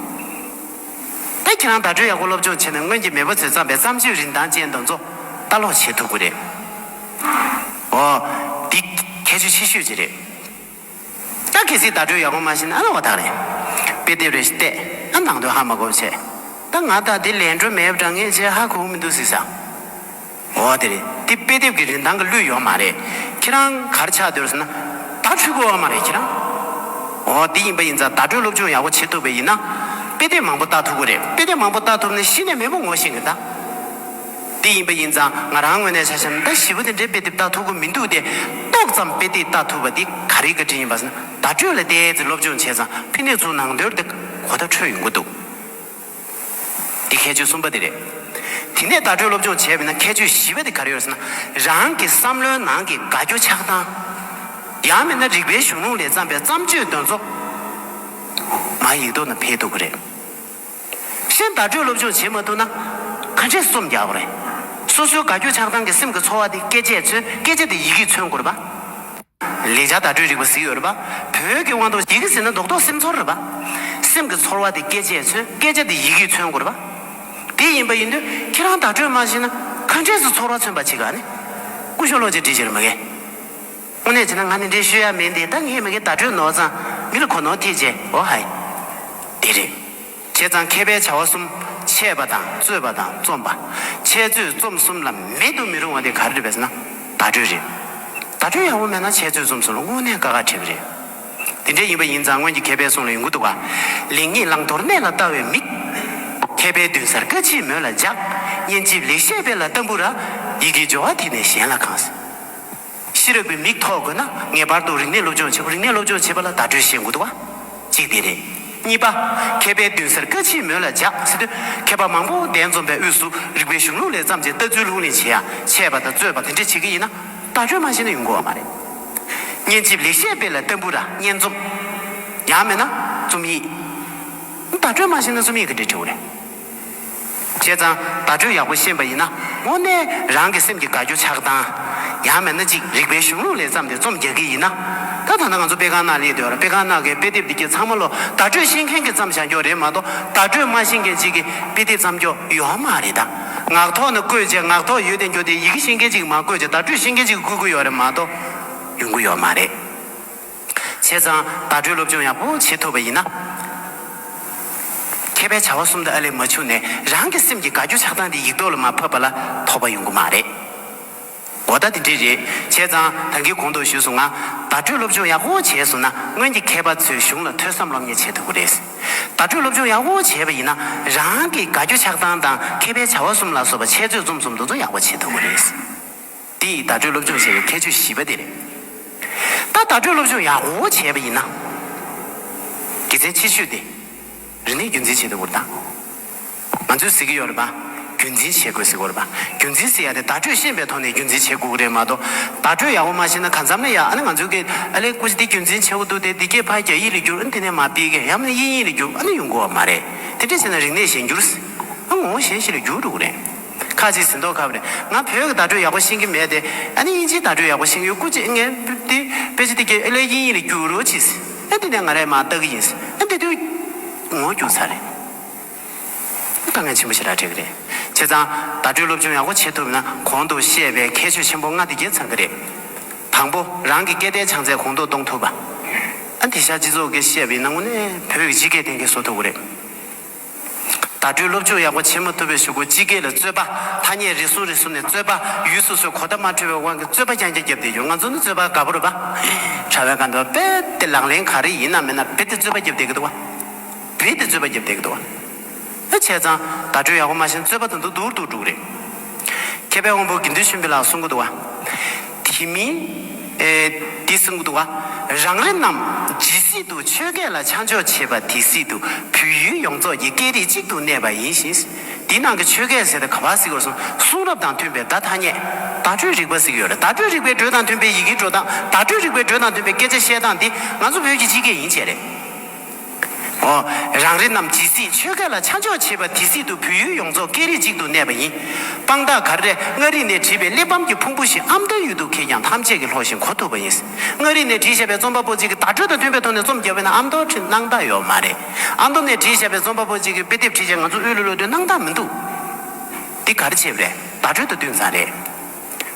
ད་ཁྱེད་རང་བརྡ་སྤྲོད་ཡག་པོ་སློབ་སྦྱོང་བྱས་ན་སྔོན་གྱི་མེས་པོ་ཚོས་བརྩམས་པའི་བརྩམས་ཆོས་རིན་ཐང་ཅན་དང་ཚོ་ལྟ་ཀློག་བྱེད་ཐུབ་གི་རེད། འོ། འདི། ཁྱད་ཆོས་ཆེ་ཤོས་ཅིག་རེད། ད་གལ་སྲིད་བརྡ་སྤྲོད་ཡག་པོ་མ་བྱས་ན་ཨ་ལ་བ་ཐག་རེད། དཔེ་དེབ་རེ་བལྟས་ན་ནང་དོན་ཧ་མ་གོ་བྱས། ད་ང་ལྟ་འདི་ལས་འགྲོ་མེད་པ་འདྲ་ངས་བྱས་ཧ་གོ་གི་མི་འདུག་ཟིག་ས། འོ་དེ་རེད་དེ་དཔེ་དེབ་ཀྱི་རིན་ཐང་གི་བློས་ཡོད་མ་རེད། ཁྱེད་རང་གར་ཆགས་འདོད་ཟེར་ན། ད་འཁྲུལ་དགོས་བ་མ་རེད་ཁྱེད་རང། འོ་དེ་ཡིན་པ་ཡིན་ཙང་བརྡ་སྤྲོད་སློབ་སྦྱོང་ཡག་པོ་བྱེད་ཐུབ་པའི་ཡིན་ན། དཔེ་དེབ་མང་པོ་བལྟ་ཐུབ་གི་རེད་དཔེ་དེབ་མང་པོ་བལྟ་ཐུབ་ན་གཞི་ནས་མེས་པོ་ངོ་ཤེས་གི་གདའ། དེ་ཡིན་པ་ཡིན་ཙང་ང་རང་དངོས་གནས་ཆ་ཤས་ཟླ་བཞི་བོ་དེ་འདྲའི་དཔེ་དེབ་བལྟ་ཐུབ་གི་མི་འདུག་སྟེ། ཏོག་ཙམ་དཔེ་དེབ་བལྟ་ཐུབ་པ་དེ་ག་རེའི་བཀའ་དྲིན་ཡིན་པ་ཟེར་ན་བརྡ་སྤྲོད་ལ་བལྟས་ཚེ་སློབ་སྦྱོང་བྱས་ཙང་དཔེ་གནས་ཚུལ་ནང་དོལ་དེ་གོ་བརྡ་འཕྲོད་ཡོང་གི་འདུག། འདི་ཁྱད་ཆོས་གསུམ་པ་དེ་རེད། དེ་ནས་བརྡ་སྤྲོད་སློབ་སྦྱོང་བྱས་པས་ན་ཁྱད་ཆོས་བཞི་པ་དེ་ག་རེ་ཡོད་ཟེར་ན། རང་གི་བསམ་བློའི་ནང་གི་དགའ་སྐྱོ་ཆགས་སྡང། ཡང་མིན་ན་རིག་པའི་གཞུང་ལུང་ལས་བརྩམས་པའི་བརྩམས་ཆོས་འདོན་ཚོགས། མ་ཡིག་ཐོག་ན་འཕེལ་འདུག་གི་རེད། གཞན་བརྡ་སྤྲོད་སློབ་སྦྱོང་བྱེད་མ་ཐུབ་ན། ཁ་འབྲས་སུ་རྩོམ་རྒྱག་གོ་རེད། སོ་སོའི་དགའ་སྐྱོ་ཆགས་སྡང་གི་སེམས་ཀྱི་ཚོར་བ་དེ་སྐད་ཆས་མཚོན་སྐད་ཆ་དེ་ཡི་གེས་མཚོན་དགོས་རེད་པ། ལེགས་སྦྱར་བརྡ་སྤྲོད་རིག་པ་གཟིགས་ཡོད་རེད་པ། བོད་ཀྱི་དབང་དུ་ཡི་གེ་ཟིན་ན་མདོག་མདོག་སེམས་ཚོར་རེད་པ། སེམས་ཀྱི་ཚོར་བ་དེ་སྐད་ཆས་མཚོན་སྐད་ཆ་དེ་ཡི་གེས་མཚོན་དགོས་རེད་པ། དེ་ཡིན་པ་ཡིན་དུས་ཁྱེད་རང་བརྡ་སྤྲོད་མ་བྱས་ན་ག་འདྲས་སུ་ཚོར་བ་མཚོན་པ་ཅིག་ཨ་ནི། སྐུ་ཞོ་ལོ་ཅིག་འདྲི་ཕྱིར་མི་དགའི། དངོས་གནས་བྱས་ན་ང་འདི་འདྲའི་ཤོད་ཡ་མེད་འདི་ད་ངས་མི་དགའི་བརྡ་སྤྲོད་ནོར་ཙང་མི་ལ་གོ་ནོར་ཐེབས་ཅེས་འོ་ཧ། དེ་རེད། བྱས་ཙང་མཁས་པའི་བྱ་བ་གསུམ། འཆད་པ་དང་རྩོད་པ་དང་རྩོམ་པ། འཆད་རྩོད་རྩོམ་གསུམ་ལ་མེད་དུ་མི་རུང་བ་དེ་ག་རེ་རེད་བས་ན། བརྡ་སྤྲོད་རེད། བརྡ་སྤྲོད་ཡག་པོ་མེད་ན་འཆད་རྩོད་རྩོམ་གསུམ་ལ་དངོས་གནས་དཀའ་ཁག་འཕྲད་གི་རེད། དེ་འདྲ་ཡིན་པ་ཡིན་ཙང་སྔོན་གྱི་མཁས་པའི་གསུང་ལ་ཡོང་གི་འདུག་ག། ལེགས་ཉེས་བླང་དོར་གནད་ལ་བལྟ་བའི་མིག། མཁས་པའི་མདུན་སར་བཀའ་མཆིད་མོད་ལ་འཇགས། སྙན་འཇེབས་ལེགས་བཤད་དཔེ་ལ་བལྟ་འབུར་ར། ཡི་གེའི་སྦྱོར་བ་དེ་ནས་གཞན་ལ་གང། ཤེས་རབ་པའི་མིག་ཐོག་དགོས་ན་ངེས་པར་དུ་རིག་གནས་སློབ་སྦྱོང་བྱེད་དགོས་རིག་གནས་སློབ་སྦྱོང་བྱེད་པ་ལ་བརྡ་སྤྲོད་བྱེད་དགོས་དུ་བ། གཅིག་དེ་རེད། གཉིས་པ། མཁས་པའི་མདུན་སར་བཀའ་ཆེན་མོད་ལ་འཇགས་སྲིད་དུས་མཁས་པ་མང་པོ་གདན་འཛོམས་པའི་དབུས་སུ་རིག་པའི་གཞུང་ལུགས་ལས་བརྩམས་ཀྱི་ལྟ་ཚུལ་ལྷུག་གླེང་བྱེད་ཡ་ཆད་པ་དང་རྩོད་པ་དེ་འདྲ་བྱེད་ཀྱི་ཡིན་ན་བརྡ་སྤྲོད་མ་བྱས་ན་ཡོང་དགོས་བ་མ་རེད། སྙན་འཇེབས་ལེགས་བཤད་དཔེ་ལ་ལྟ་འབུར་ར་སྙན་རྩོམ། ཡང་མེད་ན་རྩོམ་ཡིག། བརྡ་སྤྲོད་མ་བྱས་ན་རྩོམ་ཡིག་གི་འདྲི་འཕྲོ་བ་རེད། བྱས་ཙང་བརྡ་སྤྲོད་ཡག་པོ་ཤེས་པ་ཡིན་ན་དངོས་གནས་རང་གི་སེམས་ཀྱི་དགའ་སྐྱོ་ཆགས་སྡང། ཡང་མེད་ན་ཅིག་རིག་པའི་གཞུང་ལུགས་ལས་བརྩམས་ཏེ་རྩོམ་རྒྱག་གི་ཡིན་ན། ད་ཐ་ན་ང་ཚོ་དཔེ་ཁང་ནང་སླེབས་དུས་དཔེ་ཁང་ནང་གི་དཔེ་དེབ་འདི་གྱི་ཚང་མ་ལོ་བརྡ་སྤྲོད་ཤེས་མཁན་གྱིས་བརྩམས་བཞག་རྒྱུ་རེད་མ་གཏོགས་བརྡ་སྤྲོད་མ་ཤེས་མཁན་ཅིག་གིས་དཔེ་དེབ་བརྩམ་རྒྱུ་ཡོད་མ་རེད་ད། ངག་ཐོག་ནས་བཀོད་རྗེས་ངག་ཐོག་ཡོད་དེ་འགྱུར་ཏེ་ཡི་གེ་ཤེས་མཁན་ཅིག་གིས་མ་བཀོད་རྗེས་བརྡ་སྤྲོད་ཤེས་མཁན་ཅིག་གིས་བཀོད་ཀྱི་ཡོད་རེད་མ་གཏོགས་ཡོང་གི་ཡོད་མ་རེད། བྱས་ཙང་བརྡ་སྤྲོད་སློབ་སྦྱོང་ཡག་པོ་བྱེད་ཐུབ་པ་ཡིན་ན། མཁས་པའི་བྱ་བ་གསུམ་དུ་ཨ་ལས་མ་འཕྱུགས་ནས་རང་གི་སེམས་ཀྱི་དགའ་སྐྱོ་ཆགས་སྡང་དེ་ཡིག་ཐོག་ལ་མ་ཕབ་པ་ལ་ཐོགས་པ་ཡོང་གི་མ་རེད། འོ་ལྟ་དེ་འདྲས་རེད་བྱས་ཙང་ད་གིན་གོང་དུ་ཞུས་སོང་ང་བརྡ་སྤྲོད་སློབ་སྦྱོང་ཡག་པོ་བྱས་སོང་ན་སྔོན་གྱི་མཁས་པ་ཚོའི་གཞུང་ལ་ཐོས་བསམ་སློབ་གཉེར་བྱེད་ཐུབ་གི་རེད། བརྡ་སྤྲོད་སློབ་སྦྱོང་ཡག་པོ་བྱས་པ་ཡིན་ན་རང་གི་དགའ་སྐྱོ་ཆགས་སྡང་དང་མཁས་པའི་བྱ་བ་གསུམ་ལ་སོགས་པ་འཆད་རྩོད་རྩོམ་གསུམ་འདུ་འཛོམས་ཡག་པོ་བྱེད་ཐུབ་གི་རེད། འདི་ཡིས་བརྡ་སྤྲོད་སློབ་སྦྱོང་བྱེད་པའི་ཁྱད་ཆོས་བཞི་པ་དེ་རེད། ད་བརྡ་སྤྲོད་སློབ་སྦྱོང་ཡག་པོ་བྱས་པ་ཡིན་ན། དགེ་མཚན་ཆེ་ཤོས་དེ། རིག་གནས་རྒྱུན་འཛིན་བྱེད་ཐུབ་པར་ཐག། ང་ཚོས་ཟེར་གྱི་ཡོད་རེད་པ། རྒྱུན་འཛིན་བྱེད་དགོས་ཟེར་གི་རེད་པ། རྒྱུན་འཛིན་བྱེད་ཡག་དེ་བརྡ་སྤྲོད་ཤེས་པའི་ཐོག་ནས་རྒྱུན་འཛིན་བྱེད་དགོས་ཀྱི་རེད་མ་གཏོགས། བརྡ་སྤྲོད་ཡག་པོ་མ་ཤེས་ན་གང་འཚམ་ལས་ཡག་ཨ་ནི་ང་ཚོས་ཀྱི་ཨ་ལས་ཀུ་ཅི་འདི་རྒྱུན་འཛིན་བྱེད་དགོས་འདུག་དེ་འདི་སྐད་ཕ་རྒྱ་ཡིག་ལས་བསྒྱུར་ཨ་འདི་ནས་མ་སྤེལ་གི་ཡང་ན་དབྱིན་ཡིག་ལས་བསྒྱུར་ཨ་ནི་ཡོང་དགོས་བ་མ་རེད། དེ་འདྲས་བྱས་ན་རིག་གནས་གཞན་འགྱུར། ང་ངོ་བོ་གཞན་ཞིག་ལ་འགྱུར་འགྲོ་གི་རེད། ཁ་ཅིག་ཟིན་ཐོ་ག་པར་ང་བོད་ཀྱི་བརྡ་སྤྲོད་ཡག་པོ་ཤེས་ཀྱི་མེད་དེ། ཨ་ནི་དབྱིན་ཇིའི་བརྡ་སྤྲོད་ཡག་པོ་ཤེས་ཀྱི་ཡོད་སྐུ་ཅི་ངས་དེ་དཔེ་ཆ་དེ་གྱི་ཨེ་ལས་དབྱིན་ཡིག་ལ་བསྒྱུར་རོགས་གྱིས་ཟེར་ཨེ་འདི་ནས་ང་རས་མ་བཏགས་ཀྱི་ཡིན་ཟེར་ཨེ་འདི་དུས་ངོ་རྒྱུགས་ཚར་རེད། དཀའ་ངལ་ཆེན་པོ་ཞིག་ར་འཕྲད་ཀྱི་རེད། བྱས་ཙང་བརྡ་སྤྲོད་སློབ་སྦྱོང་ཡག་པོ་བྱེད་ཐུབ་ན་གོང་དུ་བཤད་པའི་ཁྱད་ཆོས་ཆེན་པོ་ལྔ་འདི་རྒྱལ་ཚང་གི་རེད། དང་པོ་རང་གི་སྐད་བརྡའི་བྱང་ཚད་གོང་མཐོར་གཏོང་ཐུབ་པ། ཨ་འདི་ཤར་སྤྱི་ཚོགས་ཀྱི་བཤད་པའི་སྣང་ངོ་ནས་བོད་ཀྱི་སྤྱི་སྐད་གཏན་འཁེལ་བཟོ་ཐུབ་ཀྱི་རེད། བརྡ་སྤྲོད་སློབ་སྦྱོང་ཡག་པོ་བྱེད་མ་ཐུབ་པའི་ཞུ་སྒོ་སྤྱི་སྐད་ལ་རྩོད་པ། ཐ་སྙད་རེ་ཟུང་རེ་ཟུང་ནས་རྩོད་པ། ཡུལ་སོ་སོའི་གོ་བརྡ་མ་འཕྲོད་པའི་དབང་གིས་རྩོད་པ་རྐྱང་རྐྱང་བརྒྱབ་བསྡད་ཡོད་ང་ཚོ་ནི་རྩོད་པ་དགའ་པོ་རེད་པ། དྲ་བའི་སྒང་དུ་རྦད་དེ་ལག་ལེན་ག་རེ་ཡིན་ནམ་མིན་ནམ་རྦད་དེ་རྩོད་པ་བརྒྱབ་བསྡད་ཀྱི་འདུག་བ། རྦད་དེ་རྩོད་པ་བརྒྱབ་བསྡད་ཀྱི་འདུག་བ། ཨེ་བྱས་ཙང་བརྡ་སྤྲོད་ཡག་པོ་མ་བྱིན་རྩོད་པ་དང་དུ་འདུག་འདུག་འདུག་རེད། མཁས་པའི་དབང་པོ་དགེ་འདུན་ཆེན་པོའི་ལ་གསུང་གི་འདུག་བ། དེ་མིན། འདི་གསུང་གི་འདུག་བ། རང་རེ་རྣམས་ཇི་སྲིད་དུ་ཆོས་སྐད་ལ་ཆ་འཇོག་བྱེད་པ་དེ་སྲིད་དུ་བོད་ཡུལ་ཡོངས་རྫོགས་ཀྱི་སྐད་རིགས་གཅིག་ཏུ་གནས་པ་ཡིན་ཞིང། འདི་ནང་གི་ཆོས་སྐད་ཟེར་ཏེ་ག་བ་ཟིག་གོ་སོང་གསུང་རབ་དང་མཐུན་པའི་བརྡ་ཐ་སྙད་བརྡ་སྤྲོད་རིག་པ་ཟིག་ཡོད་རེད་བརྡ་སྤྲོད་རིག་པའི་འགྲོས་དང་མཐུན་པའི་ཡི་གེའི་འགྲོ་སྟངས་བརྡ་སྤྲོད་རིག་པའི་འགྲོས་དང་མཐུན་པའི་སྐད་ཆ་བཤད་སྟངས་འདི་ང་ཚོ་བོད་ཀྱི་སྤྱི་སྐད་ཡིན་བྱས་རེད། ཨོ། རང་རེ་རྣམས་ཇི་སྲིད་ཆོས་སྐལ་ལ་ཆ་འཇོག་བྱེད་པ་དེ་སྲིད་དུ་བོད་ཡུལ་ཡོངས་རྫོགས་སྐད་རིགས་གཅིག་ཏུ་གནས་པ་ཡིན། དཔང་རྟགས་གར་རེ་མངའ་རིས་ནས་བྲིས་པའི་གླེགས་བམ་གྱི་ཕུང་པོ་ཞིག་ཨམ་མདོའི་ཡུལ་དུ་གས་ཀྱང་ཐམས་ཅད་ཀྱིས་ལྷོགས་ཤིང་གོ་ཐུབ་པ་ཡིན། མངའ་རིས་ནས་བྲིས་བཞག་པའི་རྩོམ་པ་པོ་གཅིག་གིས་བརྡ་སྤྲོད་དང་མཐུན་པའི་ཐོག་ནས་རྩོམ་རྒྱག་པས་ན་ཨམ་མདོར་བྲིས་སྣང་དག་ཡོད་མ་རེད། ཨ་མདོ་ནས་བྲིས་བཞག་པའི་རྩོམ་པ་པོ་གཅིག་གིས་དཔེ་དེབ་བྲིས་བཞག་ང་ཚོ་དབུས་ལུགས་ལོ་དོན་སྣང་དག་མི་འདུག། འདི་གར་བྱས་པ་རེད་བརྡ་སྤྲོད་དང་བསྟུན་ཙམ་རེད།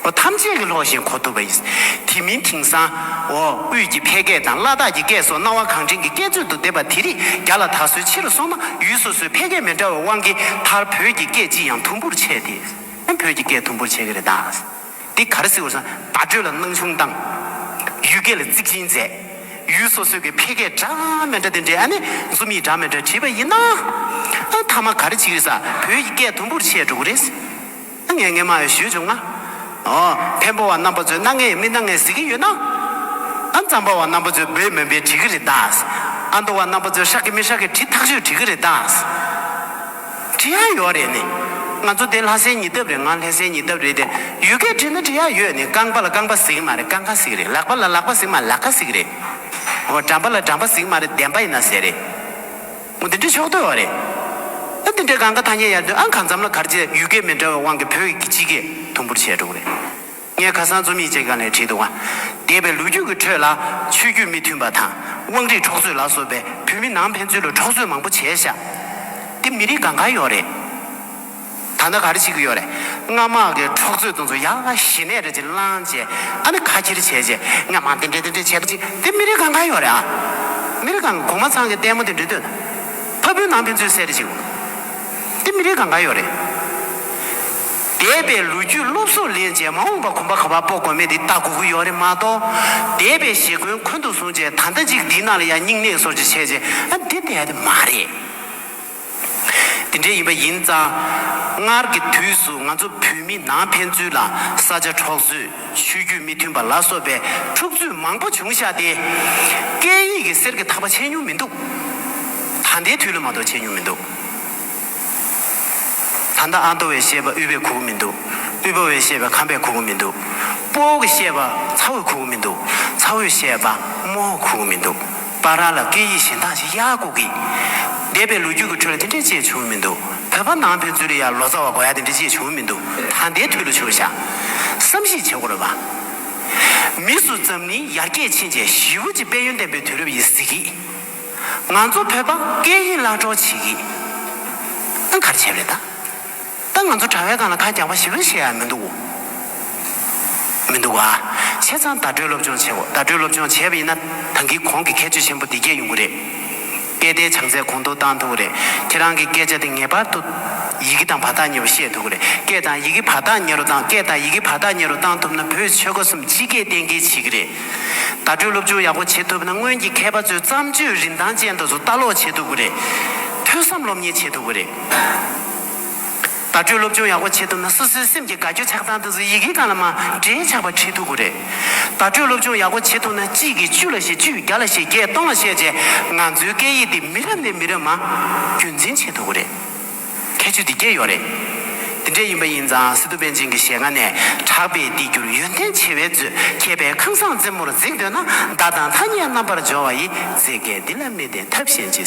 པོ་ཐམས་ཅད་ཀྱི་ལྷོགས་བཞིན་གོ་ཐུབ་པ་ཡིན། དེ་མིན་དེང་སང། འོ་དབུས་ཀྱི་ཕལ་སྐད་དང་བླ་དྭགས་ཀྱི་སྐད་སོགས་སྣང་བ་གང་དྲན་གྱི་སྐད་ཚོད་དུ་བསྡེབས་པ་དེ་རིགས་རྒྱ་ལ་ད་གཟོད་ཕྱི་རུ་སོང་ན་ཡུལ་སོ་སོའི་ཕལ་སྐད་མི་འདྲ་བའི་དབང་གིས་མཐར་བོད་ཀྱི་སྐད་ཅིག་ཡང་དུམ་བུར་ཆད་དེ། ཨ་བོད་ཀྱི་སྐད་དུམ་བུར་ཆད་ཀྱི་རེད་ད། འདི་ག་རེ་སྲིད་བོར་སོང་བརྡ་སྤྲོད་ལ་སྣང་ཆུང་བཏང། ཡུལ་སྐད་ལ་གཙིགས་ཆེན་མཛད། ཡུལ་སོ་སོའི་ཕལ་སྐད་འདྲ་མི་འདྲ་དེ་འདྲའི་ཨ་ནི་འཛུམ་ཡིག་འདྲ་མི་འདྲ་བྲིས་པ་ཡིན་ན། ཨ་མཐའ་མ་ག་རེ་བྱེད་ཀྱི་ས་བོད་ཀྱི་སྐད་དུམ་བུར་ཆད་འགྲོ་གི་རེད། སྣ་ལྔའི་སྔས་མ་ཡི་བཞུད་བྱུང་ན། བེམ་པོ་བ་རྣམ་པ་ཚོས་སྣ་ལྔའི་མི་སྣ་ལྔས་གཟིགས་ཀྱི་ཡོད་ན། ཨ་མཛངས་པ་བ་རྣམ་པ་ཚོས་སྦོས་མོན་པའི་བྲིས་ཀྱི་རེད་ད། ཨ་མདོ་བ་རྣམ་པ་ཚོས་ཧྲག་གི་མི་ཧྲག་གི་བྲིས་ཐག་ཆོད་བྲིས་ཀྱི་རེད་ད། བྲིས་ཡག་ཡོད་རེད་ནི། ང་ཚོ་དེ་ལྷ་སའི་ཉི་ལྡབ་རེད་ང་ལྷས་སའི་ཉི་ལྡབ་རེད་དེ། ཡུལ་སྐད་བྲིས་ན་བྲིས་ཡག་ཡོད་ནི་རྐང་པ་ལ་རྐང་པ་གཟིགས་མ་རེད་རྐང་ཁ་གཟིགས་རེད་ལག་པ་ལ་ལག་པ་གཟིགས་མ་ལག་ཁ་གཟིགས་རེད། འོ་འགྲམ་པ་ལ་འགྲམ་པ་གཟིགས་མ་རེད་བདེན་པ་ཡིན་ན་ཟེར་རེད། མོ་འདི་འདྲའི་ཕྱོགས་བསྡུས་བ་རེད། ཨ་འདི་འདྲའི་གང་ག་ཐ་སྙད་ཡར་འདོན་ཨང་གང་འཛམ་ལ་གར་བྱེད་ཡུལ་སྐད་མི་འདྲ་བའི་དབང་གི་བོད་ཡིག་གི་སྤྱི་སྐད་དུམ་བུར་བྱས་འགྲོ་གི་རེད། ངས་ཁ་སང་རྩོམ་ཡིག་ཅིག་ག་ནས་བྲིས་འདུག་ཨ་འདས་པའི་ལོ་རྒྱུས་ཀྱི་ཁྲོད་ལ་ཆོས་བརྒྱུད་མི་མཐུན་པ་དང་དབང་རིས་འཕྲོག་རྩོད་ལ་སོགས་པའི་བོད་མི་ནང་ཕན་ཚུན་ལ་འཕྲོག་རྩོད་མང་པོ་བྱས་བཞག་འདི་མི་རིགས་གང་གང་ཡོག་རེད། ད་ནི་ག་རེ་བྱེད་ཀྱི་ཡོད་རེད། རྔ་དམག་གི་འཕྲོག་རྩོད་གཏོང་ཚུལ་ཡ་ང་ཞི་ནས་རེད་ཅེས་བསླངས་རྗེས་ད་ནི་ཁ་འཁྱེར་བྱས་རྗེས་རྔ་དམག་དེ་འདྲས་དེ་འདྲས་བྱས་པ་ཅིག་དེ་མི་རིགས་གང་གང་ཡོད་རེད་ཨང། མི་རིགས་གང་གོང་མ་ཚང་གི་ལྟད་མོ་དེ་འདྲས་ལྟོས་ན། ཕ་བུའི་ནང་ཕན་ཚུན་བསྲེ་རེས་བྱེད་དགོས། དེ་མི་རིགས་གང་གང་ཡོད་རེད། འདས་པའི་ལོ་རྒྱུས་སློབ་གསོ་ལེན་རྗེས་མ་འོངས་པ་གོམ་པ་ག་བར་སྤོ་དགོས་མེད་དེ་ལྟ་དགོས་ཀྱི་ཡོད་རེད་མ་གཏོགས། འདས་པའི་ཞེ་འཁོན་འཁོན་དུ་བཟུང་རྗེས་ད་ལྟ་ཅིག་འདིའི་ནང་ལ་ཡང་སྙིང་ནད་སོར་ཆུད་བྱས་རྗེས་ཨ་འདི་འདས་དེ་མ་རེད། དེ་འདྲའི་ཡིན་པ་ཡིན་ཙང། སྔར་གྱི་དུས་སུ་ང་ཚོ་བོད་མི་ནང་ཕན་ཚུན་ལ་ས་ཆ་འཕྲོག་བཟོས་ཆོས་བརྒྱུད་མི་མཐུན་པ་ལ་སོགས་པའི་འཁྲུག་རྩོད་མང་པོ་བྱུང་ཤག་སྟེ། སྐད་ཡིག་གི་གསེར་གྱི་ཐག་པ་ཆད་མྱོང་མི་འདུག་ད་ལྟའི་དུས་ལ་མ་གཏོགས་ཆད་མྱོང་མི་འདུག། ད་ལྟ་ཨ་མདོ་བས་བཤད་པ་དབུས་པས་གོ་གི་མི་འདུག་དབུས་པ་བས་བཤད་པ་ཁམས་པས་གོ་གི་མི་འདུག་སྤོ་བོ་གིས་བཤད་པ་ཚ་བོས་གོ་གི་མི་འདུག་ཚ་བོས་བཤད་པ་རྨོ་བོས་གོ་གི་མི་འདུག། པ་རང་ལ་སྐད་ཡིག་གཞན་དག་ཅིག་གཡར་དགོས་ཀི། འདས་པའི་ལོ་རྒྱུས་ཀྱི་ཁྲོད་ལ་དེ་འདྲའི་ཅེས་བྱུང་མི་འདུག་བོད་པ་ནང་ཕན་ཚུན་ལ་ཡར་ལོ་ཙཱ་བ་དགོས་ཡ་དེ་འདྲའི་ཅེས་བྱུང་མི་འདུག་ད་ལྟའི་དུས་ལ་བྱུང་ཤག་བསམ་གཞིགས་བྱེད་དགོས་རེད་པ། མི་སུ་འཛམ་གླིང་ཡར་རྒྱས་ཕྱིན་རྗེས་ཞི་བུ་གཅིག་དཔལ་ཡོན་ལྡན་པའི་དུས་རབས་ཡིན་ཟེར་གི། ང་ཚོ་བོད་པ་སྐད་ཡིག་བརླག་འགྲོ་བྱེད་ཀི་ཨང་གར་བྱས་རེད་ད། ད་ང་ཚོ་གྲྭ་བས་གང་ལ་ཁ་རྒྱག་པ་ཞིག་རེད་ཤེས་ཡ་མི་འདུག་མི་འདུག་ཨ། བྱས་ཙང་བརྡ་སྤྲོད་སློབ་སྦྱོང་བྱེད་དགོས་བརྡ་སྤྲོད་སློབ་སྦྱོང་བྱས་པ་ཡིན་ན་ད་འགི་གོང་གི་ཁྱད་ཆོས་ཆེན་པོ་འདི་རྒྱས་ཡོང་གི་རེད། སྐད་བརྡའི་བྱང་ཚད་གོང་མཐོར་བཏང་ཐུབ་ཀི་རེད་ཁྱེད་རང་གི་སྐད་ཆ་དེ་ངེས་པར་དུ། ཡི་གེ་དང་བར་ཐག་ཉེ་བ་ཤེས་ཐུབ་ཀི་རེད་སྐད་དང་ཡི་གེ་བར་ཐག་ཉེ་རུ་བཏང་སྐད་དང་ཡི་གེ་བར་ཐག་ཉེ་རུ་བཏང་ཐུབ་ན་བོད་ཆོལ་ཁ་གསུམ་སྤྱི་སྐད་གཏན་འཁེལ་བྱེད་ཀི་རེད། བརྡ་སྤྲོད་སློབ་སྦྱོང་ཡག་པོ་བྱེད་ཐུབ་ན་སྔོན་གྱི་མཁས་པ་ཚོའི་བརྩམས་ཆོས་རིན་ཐང་ཅན་དུ་སུ་ལྟ་ཀློག་བྱེད་ཐུབ་ཀི་རེད། ཐོས་བསམ་སློབ་གཉེར་བྱེད་ཐུབ་ཀི་རེད། བརྡ་སྤྲོད་སློབ་སྦྱོང་ཡག་པོ་བྱེད་ཐུབ་ན་སོ་སོའི་སེམས་ཀྱི་དགའ་སྐྱོ་ཆགས་སྡང་དུ་ཡི་གེ་གང་ལ་མ་འདྲེས་ཆགས་པ་ཁྲིད་ཐུབ་པོ་རེད། བརྡ་སྤྲོད་སློབ་སྦྱོང་ཡག་པོ་བྱེད་ཐུབ་ན་གཅིག་གིས་བཅུ་ལ་བཤད་བཅུས་བརྒྱ་ལ་བཤད་བརྒྱས་སྟོང་ལ་བཤད་བྱས་ང་ཚོའི་སྐད་ཡིག་འདི་མི་རབས་ནས་མི་རབས་མ་རྒྱུན་འཛིན་བྱེད་ཐུབ་པོ་རེད། ཁྱད་ཆོས་འདི་བརྒྱད་ཡོད་རེད། འདི་འདྲས་ཡིན་པ་ཡིན་ཙང་སི་ཏུ་པན་ཆེན་གྱི་ཞལ་སྔ་ནས་གྲགས་པའི་བདེ་འགྱུར་ཡོན་ཏན་བྱེ་བའི་མཛོད་ཁྱད་པའི་ཁང་བཟང་རྩེ་མོར་འཛེགས་འདོད་ན་བརྡ་དང་ཐ་སྙད་རྣམ་པར་སྦྱོར་བ་ཡི་རྩེ་དགའི་འདི་ལ་མི་བདེན་ཐབས་གཞན་ཅི།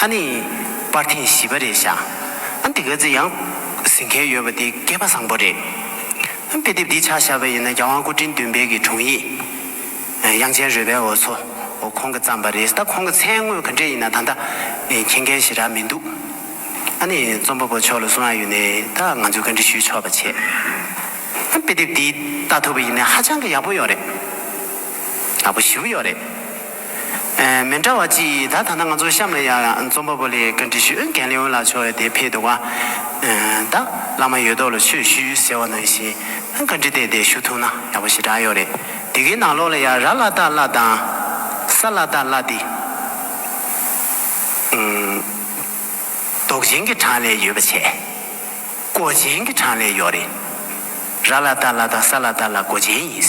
ཨ་ནི། པར་ཐེངས་བཞི་བ་རེད་བཞག་ཨ་འདི་ག་ཚེ་ཡང་ཟིན་མཁན་ཡོད་པ་འདི་སྐལ་པ་བཟང་པོ་རེད། དཔེ་དེབ་འདི་ཆགས་བཞག་པ་ཡིན་ན་རྒྱ་དབང་སྐུ་དྲིན་བདུན་སྤེལ་གྱི་དྲུང་ཡིག་དབྱངས་ཅན་རོལ་པའི་འོ་མཚོ་ཁོང་གི་བརྩམས་པ་རེད་ད་ཁོང་གི་མཚན་དངོས་ག་འདྲས་ཡིན་ན་ད་ལྟ་མཁྱེན་མཁན་ཞེ་དྲག་མི་འདུག་ཨ་ནི་རྩོམ་པ་པོ་མཆོག་ལ་གསུང་ཨ་ཡོད་ནས་ད་ང་ཚོས་བཀའ་འདྲི་ཞུས་ཆོག་པ་བྱས། དཔེ་དེབ་འདི་ལྟ་ཐུབ་པ་ཡིན་ན་ཧ་ཅང་གི་ཡག་པོ་ཡོད་རེད། ཡག་པོ་ཞིའུ་ཡོད་རེད། མི་འདྲ་བ་གཅིག་ཡིན་ད་ཐ་ན་ང་ཚོ་གཤམ་ལ་ཡང་རྩོམ་པ་པོ་ལེགས་བཀྲ་འདྲི་ཞུ་མཁན་ལེའོ་ལགས་མཆོག་ཡོད་དེ་ཕེད་འདུག་བ། ད་བླ་མ་ཡོད་དོགས་ལ་ཆོས་ཞུ་ཟེར་བ་ནང་བཞིན་བཀའ་འདྲི་དེ་དེ་ཞུ་ཐུབ་ན་ཡག་པོ་ཞེ་དྲག་ཡོད་རེད་དེ་གའི་ནང་ལོགས་ལ་ཡང་ར་བླ་སྟག་བླ་དང། ས་བླ་སྟག་བླ་དེ། རྡོག་ཅན་གྱི་གྲངས་ལས་ཡོད་པ་བྱས། གོ་ཅན་གྱི་གྲངས་ལས་ཡོག་རེད། ར་བླ་སྟག་བླ་དང་ས་བླ་སྟག་བླ་གོ་ཅན་ཡིན།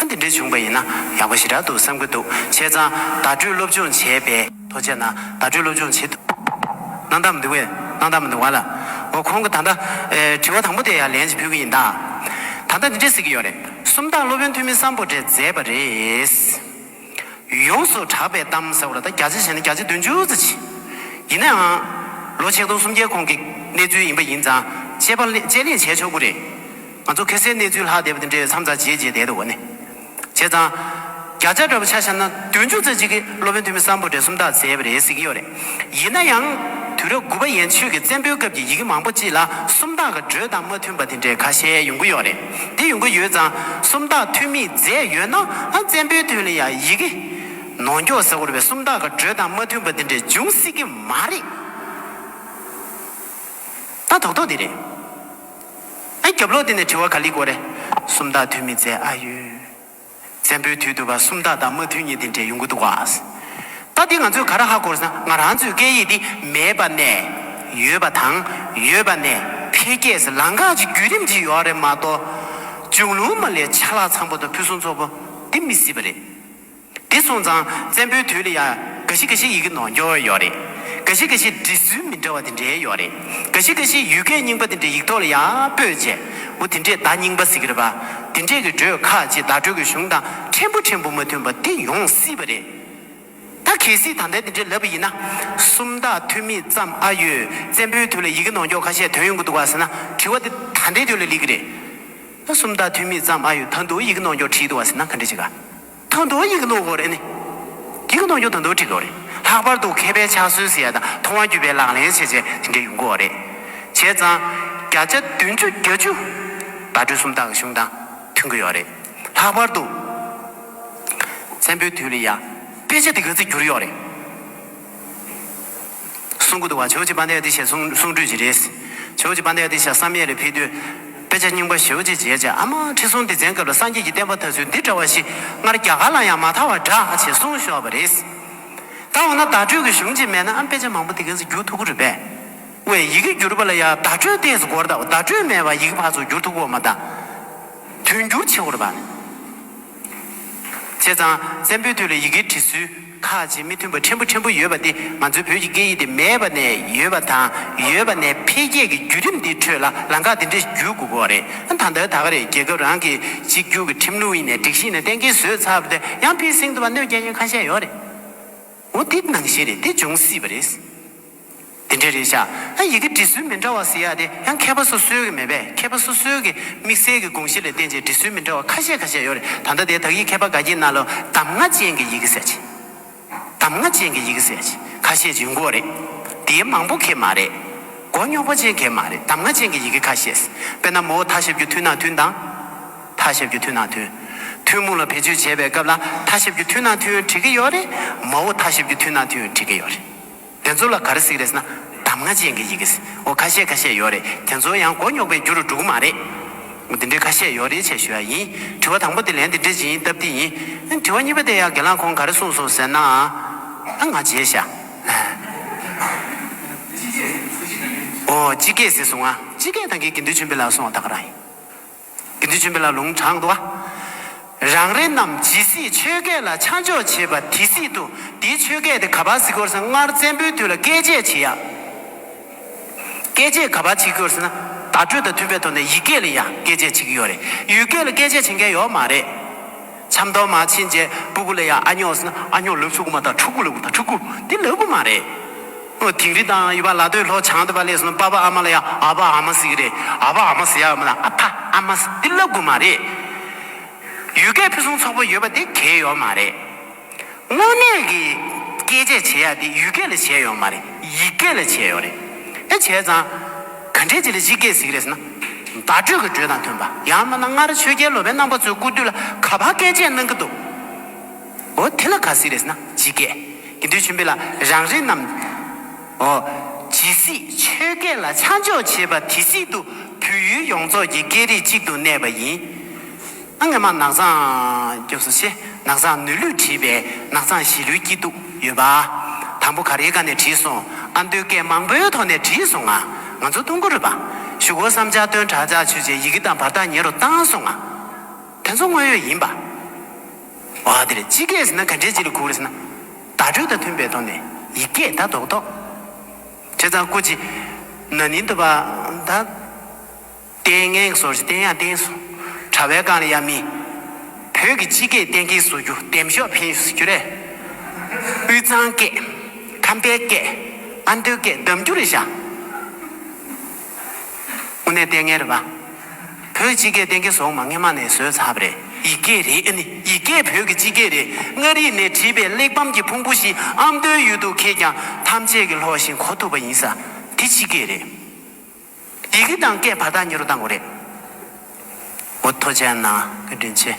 ཨ་འདི་འདྲས་བྱུང་པ་ཡིན་ན་ཡག་པོ་ཞིག་རག་འདུག་བསམ་གྱི་འདུག་བྱས་ཙང་བརྡ་སྤྲོད་སློབ་སྦྱོང་བྱས་པས་ཐོ་བཅད་ན་བརྡ་སྤྲོད་སློབ་སྦྱོང་བྱེད་གནང་ད་མི་འདུག་བས་གནང་ད་མི་འདུག་བ་ལ་འོ་ཁོང་གི་ད་ལྟ་དྲི་བ་དང་པོ་དེ་ཡང་ལན་ཅིག་ཕུལ་གྱི་ཡིན་ད། ད་ལྟ་འདི་འདྲས་ཟེར་གྱི་ཡོད་རེད་སུམ་རྟགས་སློབ་དཔོན་ཐོན་མི་བསམ་པོ་འདྲས་མཛད་པ་རེད། ཡོངས་སུ་གྲགས་པའི་གཏམ་ཟེར་བ་ལ་ད་བརྒྱ་ཆ་ཞེ་ན་བརྒྱ་ཆ་བདུན་ཅུ་རྩ་བཞི། ཡིན་ནའང། ལོ་ཆིག་སྟོང་སུམ་བརྒྱའི་གོང་གི་གནས་ཚུལ་ཡིན་པ་ཡིན་ཙང་དཔྱད་པ་དཔྱད་གླེང་བྱས་ཆོག་གི་རེད། ང་ཚོ་གྷི་སའི་གནས་ཚུལ་ལྷག་བསྡད་པ་དེ་འདྲའི་མཚམས་རྩ་བྱེད་བྱེད་བསྡད་འདུག་གོ་ནི། བྱས་ཙང། བརྒྱ་ཆ་འདྲ་པོ་ཆ་བཞག་ན་བདུན་ཅུ་རྩ་གཅིག་གིས་སློབ་དཔོན་ཐོན་མི་བསམ་པོ་བགྲེས་སོམ་དག་མཛད་པ་རེད་གཟིགས་ཀྱི་ཡོད་རེད། ཡིན་ན་ཡང། དུས་རབས་དགུ་པ་ཡན་ཆོད་ཀྱི་བཙན་པོའི་སྐབས་ཀྱི་ཡི་གེ་མང་པོ་གཅིག་ལ་སུམ་རྟགས་ཀྱི་འགྲོས་དང་མ་མཐུན་པ་དེ་འདྲའི་ཁ་ཤས་ཡོང་གི་ཡོད་རེད། འདི་ཡོང་གི་ཡོད་ཙང་སུམ་རྟགས་ཐོན་མིས་མཛད་ཡོད་ན་ཨང་བཙན་པོའི་དོན་ལ་ཡང་ཡི་གེ། ནོ་མགྱོགས་ཟེར་བར་བའི་སུམ་རྟགས་ཀྱི་འགྲོས་དང་མ་མཐུན་པ་འདི་འདྲའི་འབྱུང་སྲིད་ཀྱི་མ་རེད། ད་དོག་དོག་འདི་རེད། ཨ་རྒྱབ་ལོག་འདི་ནས་དྲི་བ་ག་ལི་གོ་རེ། སུམ་རྟགས་ཐོན་མིས་མཛད་ཨ་ཡོད། བཙན་པོའི་དུས་དུ་བ་སུམ་རྟགས་དང་མ་མཐུན་གཉིས་འདི་འདྲའི་ཡོང་གི་འདུག་བ། ད་འདི་ང་ཚོས་ག་ར་ཧ་གོ་ས་ན་ང་རང་ཚོའི་སྐད་ཡིག་འདི་མེད་པ་ནས་ཡོད་པ་དང་ཡོད་པ་ནས་འཕེལ་རྒྱས་སུ་ལང་ག་ཅིག་བརྒྱུད་རིམ་གྱིས་ཡོད་རེད་མ་གཏོགས་ཅུང་ལུང་མ་ལས་ཆ་ལག་ཚང་པོ་དང་ཕུན་སུམ་ཚོགས་པོ་འདི་མི་སྲིད་པ་རེད། འདི་སོང་ཙང་བཙན་པོའི་དུས་ལ་ཡང་འགའ་ཞིག་འགའ་ཞིག་ཡི་གེ་ནོར་འགྱོ་ཡོད་རེད་འགའ་ཞིག་འགའ་ཞིག་འབྲི་སྲོལ་མི་འདྲ་བ་འདི་འདྲའི་ཡོད་རེད། ག་ཤི་ག་ཤི་ཡུལ་སྐད་རྙིང་པ་དེ་འདྲའི་ཡིག་ཐོག་ལ་ཡང་སྤོས་རྗེས། འོ་དེ་འདྲས་བརྡ་རྙིང་པ་ཟིག་རེད་པ། དེ་འདྲས་ཀྱི་སྒྲོས་ཁ་ཅིག་བརྡ་སྤྲོད་ཀྱི་གཞུང་དང་ཕྲན་བུ་ཕྲན་བུ་མ་མཐུན་པ་དེ་ཡོང་སྲིད་པ་རེད། ད་གལ་སྲིད་ད་ལྟའི་དེ་འདྲས་ལབ་པ་ཡིན་ན། སུམ་རྟགས་ཐོན་མི་ཙམ་ཨ་ཡོད་བཙན་པོའི་དུས་ལ་ཡི་གེ་ནོག་འགྱོག་ཁ་ཤས་དོན་ཡོང་གི་འདུག་ག་ཟེར་ན་དྲི་བ་དེ་ད་ལྟའི་དུས་ལ་ལེགས་ཀྱི་རེད། སུམ་རྟགས་ཐོན་མི་ཙམ་ཨ་ཡོད་ད་འདུག་ཡི་གེ་ནོག་འགྱོག་བྲིས་འདུག་ག་ཟེར་ན་ག་འདྲས་བྱེད་ག། དང་དོ་ཡིག་ཀློག་དགོས་རེད་ནི། ཡིག་གནང་རྒྱུ་དང་དོ་བྲི་དགོས་རེད། ལྷག་པར་དུ་མཁས་པའི་ཕྱག་སྲོལ་ཟེར་ཡ་དང་མཐོང་བ་བརྒྱུད་པའི་ལག་ལེན་བྱེད་སྤྱད་དེ་འདྲ་ཡོང་དགོས་རེད། བྱས་ཙང། བརྒྱ་ཆ་བདུན་ཅུ་བརྒྱད་ཅུ། བརྡ་སྤྲོད་སུམ་རྟགས་ཀྱི་གཞུང་དང་མཐུན་དགོས་ཡོད་རེད། ལྷག་པར་དུ། བཙན་པོའི་དུས་ལ་ཡང་དཔེ་ཆ་འདི་ག་ཚིག་འགྱུར་ཡོད་རེད། གསུང་གི་འདུག་བ་ཇོ་ཇི་པཎྜི་ཨ་ཏི་ཤའི་གསུང་གསུང་སྒྲོས་ཅི་རེད། ཇོ་ཇི་པཎྜི་ཨ་ཏི་ཤ་བསམ་ཡས་ལས་ཕེབས་དུས། དཔེ་ཆ་རྙིང་པ་ཞེའུ་ཅེ་མཇལ་བྱས་ཨ་མ་ཁྲི་སྲོང་ལྡེ་བཙན་སྐབས་ལ་སངས་རྒྱས་ཀྱི་བསྟན་པ་དར་ཚུལ་འདི་འདྲ་བ་ཞིག་སྔར་རྒྱ་གར་ལ་ཡང་མ་མཐའ་བར་གྲགས་ཆེ་གསུང་ཤོར་བ་རེད། ད་འོ་ན་བརྡ་སྤྲོད་ཀྱི་གཞུང་ཅིག་མེད་ན་ཨ་དཔེ་ཆ་མང་པོ་འདི་གས་སུ་བསྒྱུར་ཐུག་གི་རེད་པས། བའི་ཡི་གེ་བསྒྱུར་པ་ལ་ཡང་བརྡ་སྤྲོད་ལྟས་སུ་གོར་ད་བརྡ་སྤྲོད་མེད་པར་ཡི་གེ་ཕར་ཚུར་བསྒྱུར་ཐུག་གོ་མ་ད། དུས་འགྱུར་ཆེ་བོར་བར། བྱས་ཙང་བཙན་པོའི་དུས་ལ་ཡི་གེ་འབྲི་སྲོལ་ཁག་ཅིག་མི་མཐུན་པ་ཕྲན་བུ་ཕྲན་བུ་ཡོད་པ་འདི་ང་ཚོའི་བོད་ཀྱི་སྐད་ཡིག་དེ་མེད་པ་ནས་ཡོད་པ་དང་ཡོད་པ་ནས་འཕེལ་རྒྱས་ཀྱི་བརྒྱུད་རིམ་འདིའི་ཁྲོད་ལ་ལང་ཀ་འདི་འདྲ་ཞིག་བརྒྱུད་དགོས་པ་རེད་ད་ལྟ་ད་རེས་རྒྱལ་ཁབ་རང་གི་གཅིག་གྱུར་གྱི་ཁྲིམས་ལུགས་ཡིན་ནས་སྒྲིག་གཞི་ཡིན་ནས་གཏན་འཁེལ་བཟོས་ཚར་བ་དེ་ཡང་ཕིར་སིང་དུ་བ་སྣོད་བརྒྱ་ཡན་ཁ་ཤས་ཡོད་རེད། མུ་སྟེགས་ནང་བཞིན་རེད་དེ་འབྱུང་སྲིད་པ་རེད། དེ་འདྲས་རེད་ཤག་ཨ་ཡི་གི་འབྲི་སྲོལ་མི་འདྲ་བ་ཟེར་ཡག་དེ་ཡང་མཁས་པ་སོ་སོའི་གི་མེད་པས་མཁས་པ་སོ་སོའི་གི་དམིགས་བསལ་གི་དགོངས་གཞི་ལས་བསྟན་ཅིང་འབྲི་སྲོལ་མི་འདྲ་བ་ཁ་ཤས་ཁ་ཤས་ཡོད་རེད་ད་ལྟ་དེ་དག་ཡིག་མཁས་པ་དགའ་སྐྱིད་རྣ་ལོ་གདམ་ང་ཅན་གི་ཡི་གི་ཟེར་ཅིང་གདམ་ང་ཅན་གི་ཡི་གི་ཟེར་ཅིང་ཁ་ཤས་ཀྱི་མགོ་རེད་དེའི་མང་པོ་གི་མ་རེད་མགོ་རྙོག་པ་ཅན་གི་མ་རེད་གདམ་ང་ཅན་གི་ཡི་གི་ཁ་ཤས་དཔེར་ན་མོའོ་ཐ་ཞབས་རྒྱུ་མཐུན་ན་མཐུན་དང། ཐ་ཞབས་ཀྱི་ཐུན་ནང་ཐུན། ཐུན་མོང་ལ་བེད་སྤྱོད་བྱེད་པའི་སྐབས་ལ་ཐ་ཞབས་ཀྱི་ཐུན་ནང་ཐུན་བྲི་གི་ཡོད་རེད། མ་འོ་ཐ་ཞབས་ཀྱི་ཐུན་ནང་ཐུན་བྲི་གི་ཡོད་རེད། དེ་ཚོ་ལ་ག་རེ་གཟིགས་རེད་ཟེར་ན་གདམ་ང་ཅན་གྱི་ཡི་གེ་ཟེར་འོ་ཁ་ཤས་ཁ་ཤས་ཡོད་རེད་དེ་ཚོ་ཡང་མགོ་རྙོག་པའི་རྒྱུ་རུ་འགྲོ་གི་མ་རེད། འདི་འདྲའི་ཁ་ཤས་ཡོད་རེད་བྱས་ཞུ་ཡ་ཡིན། དྲི་བ་དང་པོ་དེ་ལན་དེ་འདྲས་ཇི་ཡིན་སྟབས་འདི་ཡིན། དྲི་བ་གཉིས་པ་དེ་ཡང་དགེ་ལགས་ཁོང་ག་རེ་གསུངས་སོང་ཟེར་ན། ང་རྗེས་ཤ། འོ་སྤྱི་སྐད་ཟེར་སོང་ང་སྤྱི་སྐད་དང་གི་གི་འདུལ་ཆེན་པོའི་ལགས་སོང་བ་ད་ག་རང་ཡིན། དགེ་འདུན་བཅོམ་པའི་ལ་ལུང་དྲངས་ཏོ། རང་རེ་རྣམས་ཇི་སྲིད་ཆོས་སྐད་ལ་ཆ་འཇོག་བྱེད་པ་དེ་སྲིད་དུ་དེའི་ཆོས་སྐད་དེ་ག་པ་སི་ཀོར་སང་སྔར་བཙན་པོའི་དུས་ལ་བཀས་བཅད་བྱེད་ཡ། བཀས་བཅད་ག་པ་བྱེད་ཀྱི་ཡོད་ཟེར་ན་བརྡ་སྤྲོད་དང་མཐུན་པའི་ཐོག་ནས་ཡིག་སྐད་ལ་ཡང་བཀས་བཅད་བྱེད་ཀྱི་ཡོད་རེད། ཡུལ་སྐད་ལ་བཀས་བཅད་བྱེད་མཁན་ཡོད་མ་རེད། ཆབ་མདོ་མ་ཕྱིན་རྗེས་སྤུ་གུ་ལ་ཡང་ཨ་སྙོག་ཟེར་ན་ཨ་སྙོག་ལུག་ཆུ་གུ་མ་དང་ཕྲུག་གུ་ལུག་གུ་དང་ཕྲུག་གུ་དེ་ལབ་གི་མ་རེད། ཨོ་དིང་རི་དང་ཡུ་བ་ལ་ཏོའི་ལྷོ་བྱང་དུ་བ་ལས་སུ་པ་བ་ཨ་མ་ལ་ཡ་ཨ་བ་ཨ་མ་སི་གི་རེ་ཨ་བ་ཨ་མ་སི་ཡ་མ་ལ་ཨ་ཕ་ཨ་མ་སི་ཏི་ལ་དགུ་མ་རེ། ཡུལ་སྐད་ཕུན་སུམ་ཚོགས་པོ་ཡོད་པ་དེ་གལ་ཡོག་མ་རེ། དངོས་གནས་ཀྱི་སྐད་ཆས་བྱེད་ཡག་དེ་ཡུལ་སྐད་ལ་བྱེད་ཡོག་མ་རེ་ཡིག་སྐད་ལ་བྱེད་ཡོག་རེ། ཨེ་བྱས་ཙང་ག་འདྲས་ཅི་ལ་གཞིག་སྐད་སི་གི་རེ་ཟེར་ན། བརྡ་སྤྲོད་ཀྱི་འགྲོས་དང་མཐུན་པ་ཡང་མ་ན་སྔར་ཆོས་རྒྱལ་ལོ་པའི་རྣམ་པ་ཚོའི་སྐུ་དུས་ལ་ག་བ་སྐད་ཆས་གནང་གི་འདུག། འོ་དེ་ལ་ག་སྲིད་རེས་ན་ཇི་སྐད། དགེ་འདུན་ཆེན་པོས་ལ་རང་རེ་རྣམས། འོ། ཇི་སྲིད་ཆོས་སྐད་ལ་ཆ་འཇོག་བྱེད་པ་དེ་སྲིད་དུ་བོད་ཡུལ་ཡོངས་རྫོགས་ཀྱི་སྐད་རིགས་གཅིག་ཏུ་གནས་པ་ཡིན། ཨ་ངེ་མ་ནག་ཚང་སྐྱོབས་སོ་ཞེས་ནག་ཚང་ནུས་ལུས་བྲིས་པས་ནག་ཚང་ཞི་ལུའི་སྐྱིད་སྡུག་ཡོད་པ། དང་པོ་ག་རེའི་སྒང་ནས་བྲིས་སོང་ཨ་མདོའི་སྐད་མང་པོའི་ཐོག་ནས་བྲིས་སོང་ང། ང་ཚོ་ཏུང་གུ་རུ་པ། ཞུ་སྒོ་བསམ་འཆར་སྟོན་གྲ་བྱ་ཆུ་བྱས་ཡི་གེ་དང་བར་ཐག་ཉེ་རུ་བཏང་སོང་ང། དེ་ཚོ་དངོས་ཡོད་ཡིན་པ། འོ་དེ་རེད་སྤྱི་སྐད་ཟེར་ན་ག་འདྲའི་སྤྱི་ལ་གུག་རེད་ཟེར་ན། བརྡ་སྤྲོད་དང་མཐུན་པའི་ཐོག་ནས་ཡིག་སྐད་བརྡ་རྡོག་རྡོག། བྱས་ཙང་སྐུ་ཅི། ན་ནིང་དུ་བ། ད། ཏན་ངན་གྱི་སོར་བཞི་བསྟན་ཡང་བསྟན་སོང། དྲ་བའི་སྒང་ལ་ཡ་མི། བོད་ཀྱི་སྤྱི་སྐད་གཏན་འཁེལ་བཟོ་རྒྱུ་འདེམས་ཤོག་འཕེན་བཟོ་རྒྱུ་རེད། དབུས་གཙང་སྐད། ཁམས་པའི་སྐད། ཨ་མདོའི་སྐད་གདམ་རྒྱུ་རེད་བཞག། དངོས་གནས་ལྟས་ངན་རེད་པ། བོད་སྤྱི་སྐད་གཏན་འཁེལ་སོགས་མ་ངེས་མ་ནས་བཟོས་ཚབ་རེད། ཡིག་སྐད་རེད་ཨ་ནི་ཡིག་སྐད་བོད་ཀྱི་སྤྱི་སྐད་རེད་མངའ་རིས་ནས་བྲིས་པའི་གླེགས་བམ་གྱི་ཕུང་པོ་ཞིག་ཨ་མདོའི་ཡུལ་དུ་ཁེལ་ཀྱང་ཐམས་ཅད་ཀྱི་ལྷོགས་ཤིང་གོ་ཐུབ་པ་ཡིན་ས་དེ་སྤྱི་སྐད་རེད། ཡི་གེ་དང་སྐད་བར་ཐག་ཉེ་རུ་བཏང་དགོས་རེད། འོ་ཐོ་ཅན་ན་སྐད་འདྲེན་བྱེད།